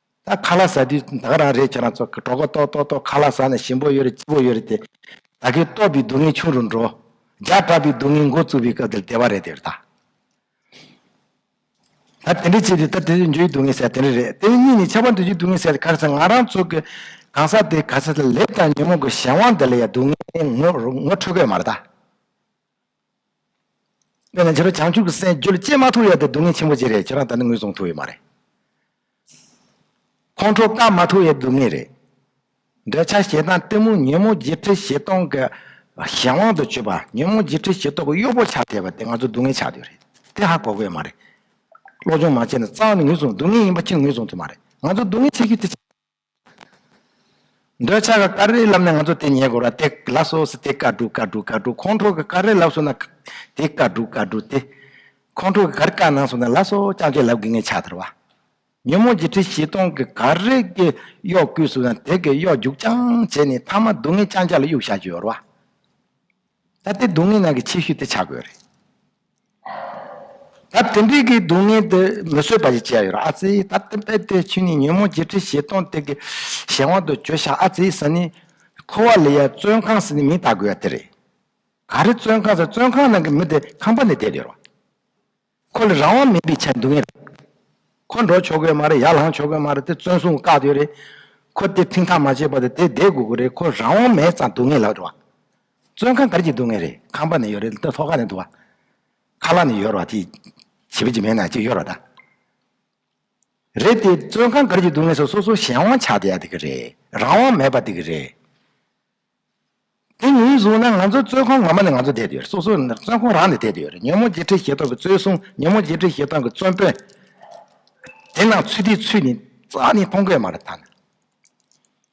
[SPEAKER 1] ད་ཁ་ལག་ཟ་དུས་ད་ག་རང་རེད་ཁྱེད་རང་ཚོ་གྲོགས་པོ་ཏོག་ཏོག་ཏོག་ཁ་ལག་ཟ་ནས་ཞིམ་པོ་ཡོད་རེད་སྐྱིད་པོ་ཡོད་རེད་དེ། ད་གིན་ལྟོགས་པའི་སྡུག་བསྔལ་ཆུང་རུ་འགྲོ། རྒྱག་དྲགས་པའི་སྡུག་བསྔལ་མགོ་བཙུགས་པའི་སྐབས་འདིར་བདེ་བ་རེད་དེ་ད། ད་དེ་འདྲས་བྱས་ཏེ་ད་དེ་དུས་འགྱོད་ཀྱི་སྡུག་བསྔལ་ཟད་དེ་འདྲས་རེད་དེ་གཉིས་ནི་ཆབ་བམ་དུས་འགྱོད་སྡུག་བསྔལ་ཟད་དེ་ག་རེ་ཟ་ང་རང་ཚོ་གི་གང་ཟག་དེ་ག་ཚད་ལེབ་དང་ཉོན་མོངས་ཀྱི་གཞན་དབང་འདི་ལ་ཡང་སྡུག་བསྔལ་ངོ་འཕྲོད་དགོས་མ་རེད་ད། ཁྱེད་རང་ཁྱེད་རང་བྱང་ཆུབ་ཀྱི་སེམས་རྒྱུད་ལ་སྐྱེས་མ་ཐུབ་ཡ་དེ་སྡུག་བསྔལ་ཆེན་པོ་ཅིག་རེད་ཁྱེད་རང་ད་ནི་ངོས་བཟུང་ཐུབ་ཡོད་མ་རེད། ཁོང་ཁྲོ་བསྐང་མ་ཐུབ་ཡ་སྡུག་བསྔལ་རེད། འདོད་ཆགས་ཞེ་སྡང་གཏི་མུག་ཉོན་མོངས་བརྗེད་ཁྲི་བཞི་སྟོང་གི་གཞན་དབང་དུ་གྱུར་པ་ཉོན་མོངས་བརྗེད་ཁྲི་བཞི་སྟོང་གི་གཡོག་པོ་ཆགས་ཐལ་བ་དེ་ང་ཚོ་སྡུག་བསྔལ་ཆགས་ཡོད་རེད་དེ་ཧ་གོ་དགོས་ཡོད་མ་རེད། བློ་སྦྱོང་མ་བྱས་ནས་རྩ་བ་ནས་ངོས་བཟུང་སྡུག་བསྔལ་ཡིན་པ་ཅི་ངོས་བཟུང་ཐུབ་མ་རེད་ང་ཚོ་སྡུག་བསྔལ་ཆགས་རྒྱུ་དེ། འདོད་ཆགས་ཀྱི་ཀ་རའི་ལམ་ནས་ང་ཚོ་དེ་ཉལ་དགོས་ར་དེ་ལ་སོགས་སི་ཏེ་ཀ་དྲུག་ཀ་དྲུག་ཀ་དྲུག་ཁོང་ཁྲོ་གི་ཀ་རའི་ལབ་སོང་ན་དེ་ཀ་དྲུག་ཀ་དྲུག་སྟེ། ཁོང་ཁྲོ་གི་གར་ཀ་ནང་སོང་ན་ལ་སོགས་རྐྱང་རྐྱང་ལབ་དགོས་ངེས་ཆགས་དར་བ། ཉོན་མོངས་བརྒྱད་ཁྲི་བཞི་སྟོང་གི་གར་རས་ཀྱི་གཡོག་བརྐུས་སོང་ན་དེ་གི་གཡོག་རྒྱུག་རྐྱང་བྱས་ནས་ཐ་མ་སྡུག་བསྔལ་རྐྱང་རྐྱང་ལ་གཡུག་བཞག་རྒྱུ་ཡོད་ར་བ། ད་དེ་སྡུག་བསྔལ་ནང་གི་ཆེ་ཤོས་དེ་ཆགས་དགོས་རེད། ད་དེ་འདྲའི་གི་སྡུག་བསྔལ་དེ་མི་བཟོད་པ་ཞིག་བྱས་ཡོད་ར་ཨ་ཙི་ད་དེ་དཔེ་དེ་ཆུ་ནི་ཉོན་མོངས་བརྗེད་ཁྲི་བཞི་སྟོང་དེ་གི་གཞན་དབང་དུ་གྱོད་ཤག་ཨ་ཙི་ཟ་ནི། ཁོ་བ་ལི་ཡ་བཙོན་ཁང་ཟི་ནི་མིང་བཏགས་དགོས་ཡ་དེ་རེད། ག་རེ་བཙོན་ཁང་ཟེར་བཙོན་ཁང་ནང་གི་མི་དེ་ཁང་པ་ནས་བསྡད་ཡོད་ར། ཁོ་ལ་རང་དབང་མེད་པའི་ཆ་འདུག་ངེས་རེད། ཁོ་འགྲོ་ཆོག་གོས་མ་རེད་ཡར་ལངས་ཆོག་གོས་མ་རེད་དེ་བཙོན་སྲུང་བཀག་ཡོད་རེད། ཁོ་དེ་ཁྲིམས་ཐག་མ་བཅད་པ་དེ་དེ་བསྡད་དགོས་གི་རེད་ཁོ་རང་དབང་མེད་ཙང་འདུག་ངེས་ལགས་འགྲོ་བ། བཙོན་ཁང་གར་གྱི་སྡུག་བསྔལ་རེད་ཁང་པ་ནས་ཡོད་རེད་ཐོག་ཁ་ནས་འདུག་བ། ཁ་ལག་ནས་ཡོད་རོགས་དེ་བྱེད་པོ་ཅིག་མེད་ན་ཅིག་ཡོད་རོགས་ད། རེད་དེ་བཙོན་ཁང་གར་གྱི་སྡུག་བསྔལ་སོ་སོ་སོ་གཞན་དབང་ཆགས་དེ་ཡག་དེ་གི་རེད་རང་དབང་མེད་པ་དེ་གི་རེད། དེ་ངོས་བཟུང་ན་ང་ཚོ་བཙོན་ཁང་ངོ་མ་ནས་ང་ཚོ་བསྡད་དུ་ཡོད་རེད་སོ་སོ་བཙོན་ཁང་རང་ནས་བསྡད་དུ་ཡོད་རེད་ཉོན་མོངས་བརྗེད་ཁྲིད་ཞེ་སྡང་གི་བཙོན་སྲུང་ཉོན་མོངས་བརྗེད་ཁྲིད་ཞེ་སྡང་གི་བཙོན་དཔོན། དེ་ནང་ཚུད་དེ་ཚུད་ནས་རྩ་ནས་མཐོང་དགོས་མ་རེད་ད་ནི།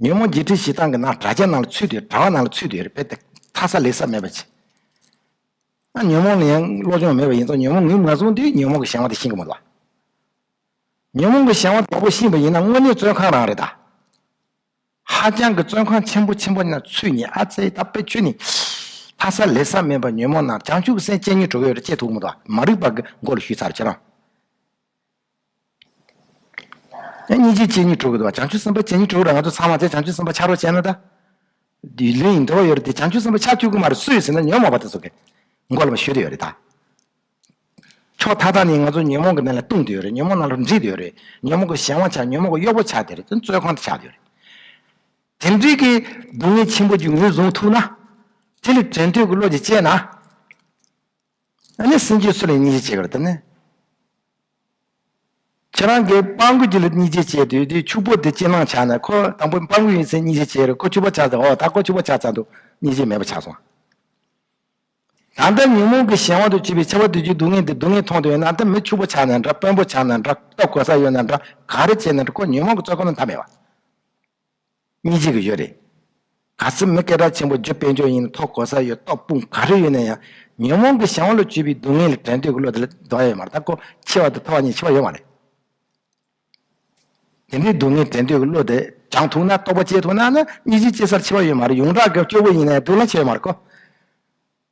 [SPEAKER 1] ཉོན་མོངས་བརྒྱད་ཁྲི་བཞི་སྟེང་གི་ན་དགྲ་ཅན་རྣམས་ལ་ཚུད་དེ་དྲ་བ་རྣམས་ལ་ཚུད་དེ་རྦད་དེ་ཐར་ས་ལེགས་ས་མེད་པར་བྱེད། ན་ཉོན་མོངས་ལ་ཡང་བློ་སྦྱོང་མེད་པ་ཡིན་ཙང་ཉོན་མོངས་ངེས་མ་བཟུང་དུས་ཉོན་མོངས་ཀྱི་བྱང་བ་དེ་ཤིན་གྱི་མ་ལགས། ཉོན་མོངས་ཀྱི་བྱང་བ་དྲག་པོ་ཤིན་པ་ཡིན་ན་དངོས་གནས་བཙོན་ཁང་རང་རེད་ད། ཧ་ཅང་གི་བཙོན་ཁང་ཆེན་པོ་ཆེན་པོ་ན་ཚུད་ནས་ཨ་ཙེ་ད་དཔེ་ཆོས་ནི། ཐར་ས་ལེགས་ས་མེད་པར་ཉོན་མོངས་རྣམས་བྱང་ཆུབ་སེམས་སྤྱན་གཉིས་གྲོལ་བའི་རེ་ཆད་དུག་མ་དོ་མ་རིག་པ་གི་མགོ་ལ་ཞུས་ཚར་ཁྱེད་རང། སྙིང་རྗེ་སྤྱན་གཉིས་གྲུབ་བོ། བྱང་ཆུབ་སེམས་དཔའ་སྤྱན་གཉིས་གྲུབ་བོ་ལ་ང་ཚོ་ཚང་མ་དེ་བྱང་ཆུབ་སེམས་དཔའ་ཆགས་རོགས་བྱས་ན་ད། འདི་ལོས་ཡིན་འདོད་པ་ཡོད་རེད་དེ་བྱང་ཆུབ་སེམས་དཔའ་ཆགས་ཐུག་གི་མ་རེད་སུ་ཡོད་ཟེར་ན་ཉོན་མོངས་པ་དེ་ཚོ་དགེ་མགོ་ལ་མ་ཞུ་དེ་ཡོད་རེད་ད། ཕྱོགས་མཐའ་དག་ནས་ང་ཚོ་ཉོན་མོངས་ཀྱི་གནས་ལ་ལྟུང་དེ་ཡོད་རེད་ཉོན་མོངས་རྣམས་ལ་འདྲིས་དེ་ཡོད་རེད་ཉོན་མོངས་ཀྱི་གཞན་དབང་ཆགས་ཉོན་མོངས་ཀྱི་གཡོག་པོ་ཆགས་དེ་རེད་དོན་རྩོད་ཁང་དུ་ཆགས་དེ་ཡོད་རེད། དེ་འདྲིས་ཀྱི་སྡུག་བསྔལ་ཆེན་པོ་ཀྱི་ངོས་བཟུང་ཐུབ་ན། དེ་ལས་དོན་ཐོས་ཀྱི་བློ་གྱིས་དཔྱད་ན། ཨ་ནི་སེམས་ཅན་སུ་ལ་སྙིང་རྗེ་སྐྱེ་གར་བསྟན་ནས། ཁྱེད་རང་གིས་སྤང་རྒོད་ཅིག་ལ་སྙིང་རྗེ་སྐྱེས་དུས་དེའི་ཕྱུག་པོ་དེ་ཅི་སྣང་ཆགས་ནས་ཁོ་དང་པོ་སྤང་རྒོད་ཡིན་ཚེ་སྙིང་རྗེ་སྐྱེས་རུང་ཁོ་ཕྱུག་པོ་ཆགས་ཚེ་ཨོ་ད་ཁོ་ཕྱུག་པོ་ཆགས་ཚར་འདུག་སྙིང་རྗེ་མེད་པ་ཆགས་སོང། ད་ལྟ་ཉོན་མོངས་ཀྱི་གཞན་དབང་དུ་གྱུར་པའི་ཆེ་བ་དུས་ཀྱི་སྡུག་བསྔལ་འདི་སྡུག་བསྔལ་མཐོང་དུས་ན་ད་མི་ཕྱུག་པོ་ཆགས་ནས་འདྲ་དཔོན་པོ་ཆགས་ནས་འདྲ་ལྟོ་གོས་ས་ཡོད་ནས་འདྲ་ག་རེ་བྱས་ནས་འདྲ་ཁོ་ཉོན་མོངས་ཀྱི་བཙོད་ཁོ་ན་མཐའ་མེད་པ། གཉིས་བརྗེད་ཀྱི་ཡོད་རེད། ག་ཚོད་མི་སྐད་གྲགས་ཆེན་པོ་རྒྱུ་དཔེ་འཇོག་ཡིན་ན་ཐོག་གོ་ས་ཡོད་ཏོག་སྤུངས་ག་རེ་ཡོད་ན་ཡང་ཉོན་མོངས་ཀྱི་ཞེན་བ་ལོ་བཅུ་པའི་སྡུག་བསྔལ་ལས་བྲལ་འདོད་ཀྱི་བློ་དེ་ལས་འདའ་ཡོད་མ་རེད་ད་ཀོ་འཆི་བ་དང་ཐོ་བ་གཉིས་འཆི་བ་ཡོད་མ་རེད། དེ་འདྲའི་སྡུག་བསྔལ་བྲལ་འདོད་ཀྱི་བློ་དེ་སྦྱང་ཐུབ་ན་རྟོགས་པ་སྐྱེ་ཐུབ་ན་ནི་གཉིས་བརྗེད་སྐྱེ་སར་འཆི་བ་ཡོད་མ་རེད་ཡོངས་གྲགས་ཀྱི་སྐྱོ་བོ་ཡིན་ན་ཡང་སྡུག་བསྔལ་ཆེ་ཡོད་མ་རེད་ཀོ།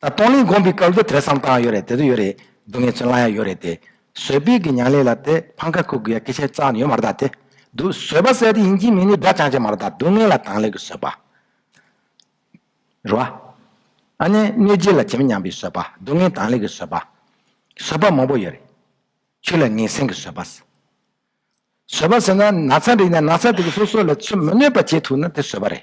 [SPEAKER 1] ད་སྟོང་གླིང་དགོན་པའི་སྐབས་དུ་དེ་བསམ་བཏང་ཡོད་རེད་དེ་དུ་ཡོད་རེད་སྡུག་བསྔལ་ཚོད་ལ་ཡང་ཡོད་རེད་དེ། བཟོད་དཔེ་གི་མྱང་ལས་ལ་དེ་ཕང་ཁ་ཁུག་དགོས་ཡ་སྐད་ཆ་རྩ་ཡོད་མ་རེད་ད་དེ། དུ་བཟོད་པ་ཟད་དེ་ཡིན་གྱི་མིན་ནི་སྒྲ་ཅང་ཅེ་མ་རེད་ད་སྡུག་བསྔལ་ལ་དང་ལས་ཀྱི་བཟོད་པ། རེད་བ། ཨ་ནེ་གནོད་སྦྱིན་ལ་ཇི་མི་སྙམ་པའི་བཟོད་པ་སྡུག་བསྔལ་དང་ལས་ཀྱི་བཟོད་པ། བཟོད་པ་མང་པོ་ཡོད་རེད། ཆོས་ལ་ངན་སེམས་ཀྱི་བཟོད་པ། བཟོད་པ་ཟེར་ན་ན་ཚ་འདྲ་ཡིན་ན་ན་ཚ་དེ་གི་སོ་སོ་ལ་ཆོས་མི་གནོད་པ་བྱེད་ཐུབ་ན་དེ་བཟོད་པ་རེད།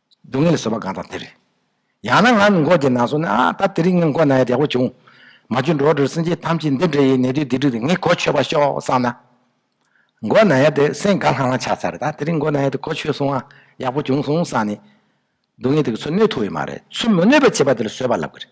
[SPEAKER 1] སྡུག་བསྔལ་བཟོད་པ་གང་དང་དེར། ཡང་ན་ང་ནི་འགོག་བགྱིད་ན་སོང་ནས་ཨ་ད་དེ་རིང་ངས་འགོག་ན་ཡང་བདེ་བོ་བྱུང། མ་བྱུང་འགྲོ་འདྲར་སེམས་ཅན་ཐམས་ཅད་འདི་འདྲ་ཡི་ནད་དུས་སྡིག་སྒྲིབ་དེ་ངས་གོ་ཆོད་པར་ཤོག་བསམ་ན། འགོག་ན་ཡང་དེ་སེམས་དགའ་ལྷང་ལྷང་ཆགས་ཚར་ད་དེ་རིང་འགོག་ན་ཡང་དེ་གོ་ཆོད་སོང་ཨ་ཡག་པོ་བྱུང་སོང་བསམ་ནས། སྡུག་བསྔལ་དེ་གི་ཚུལ་གནོད་ཐུབ་ཡོད་མ་རེད་ཚུལ་མི་གནོད་པའི་བྱེད་པ་དེ་ལ་བཟོད་པ་ལབ་གི་རེད།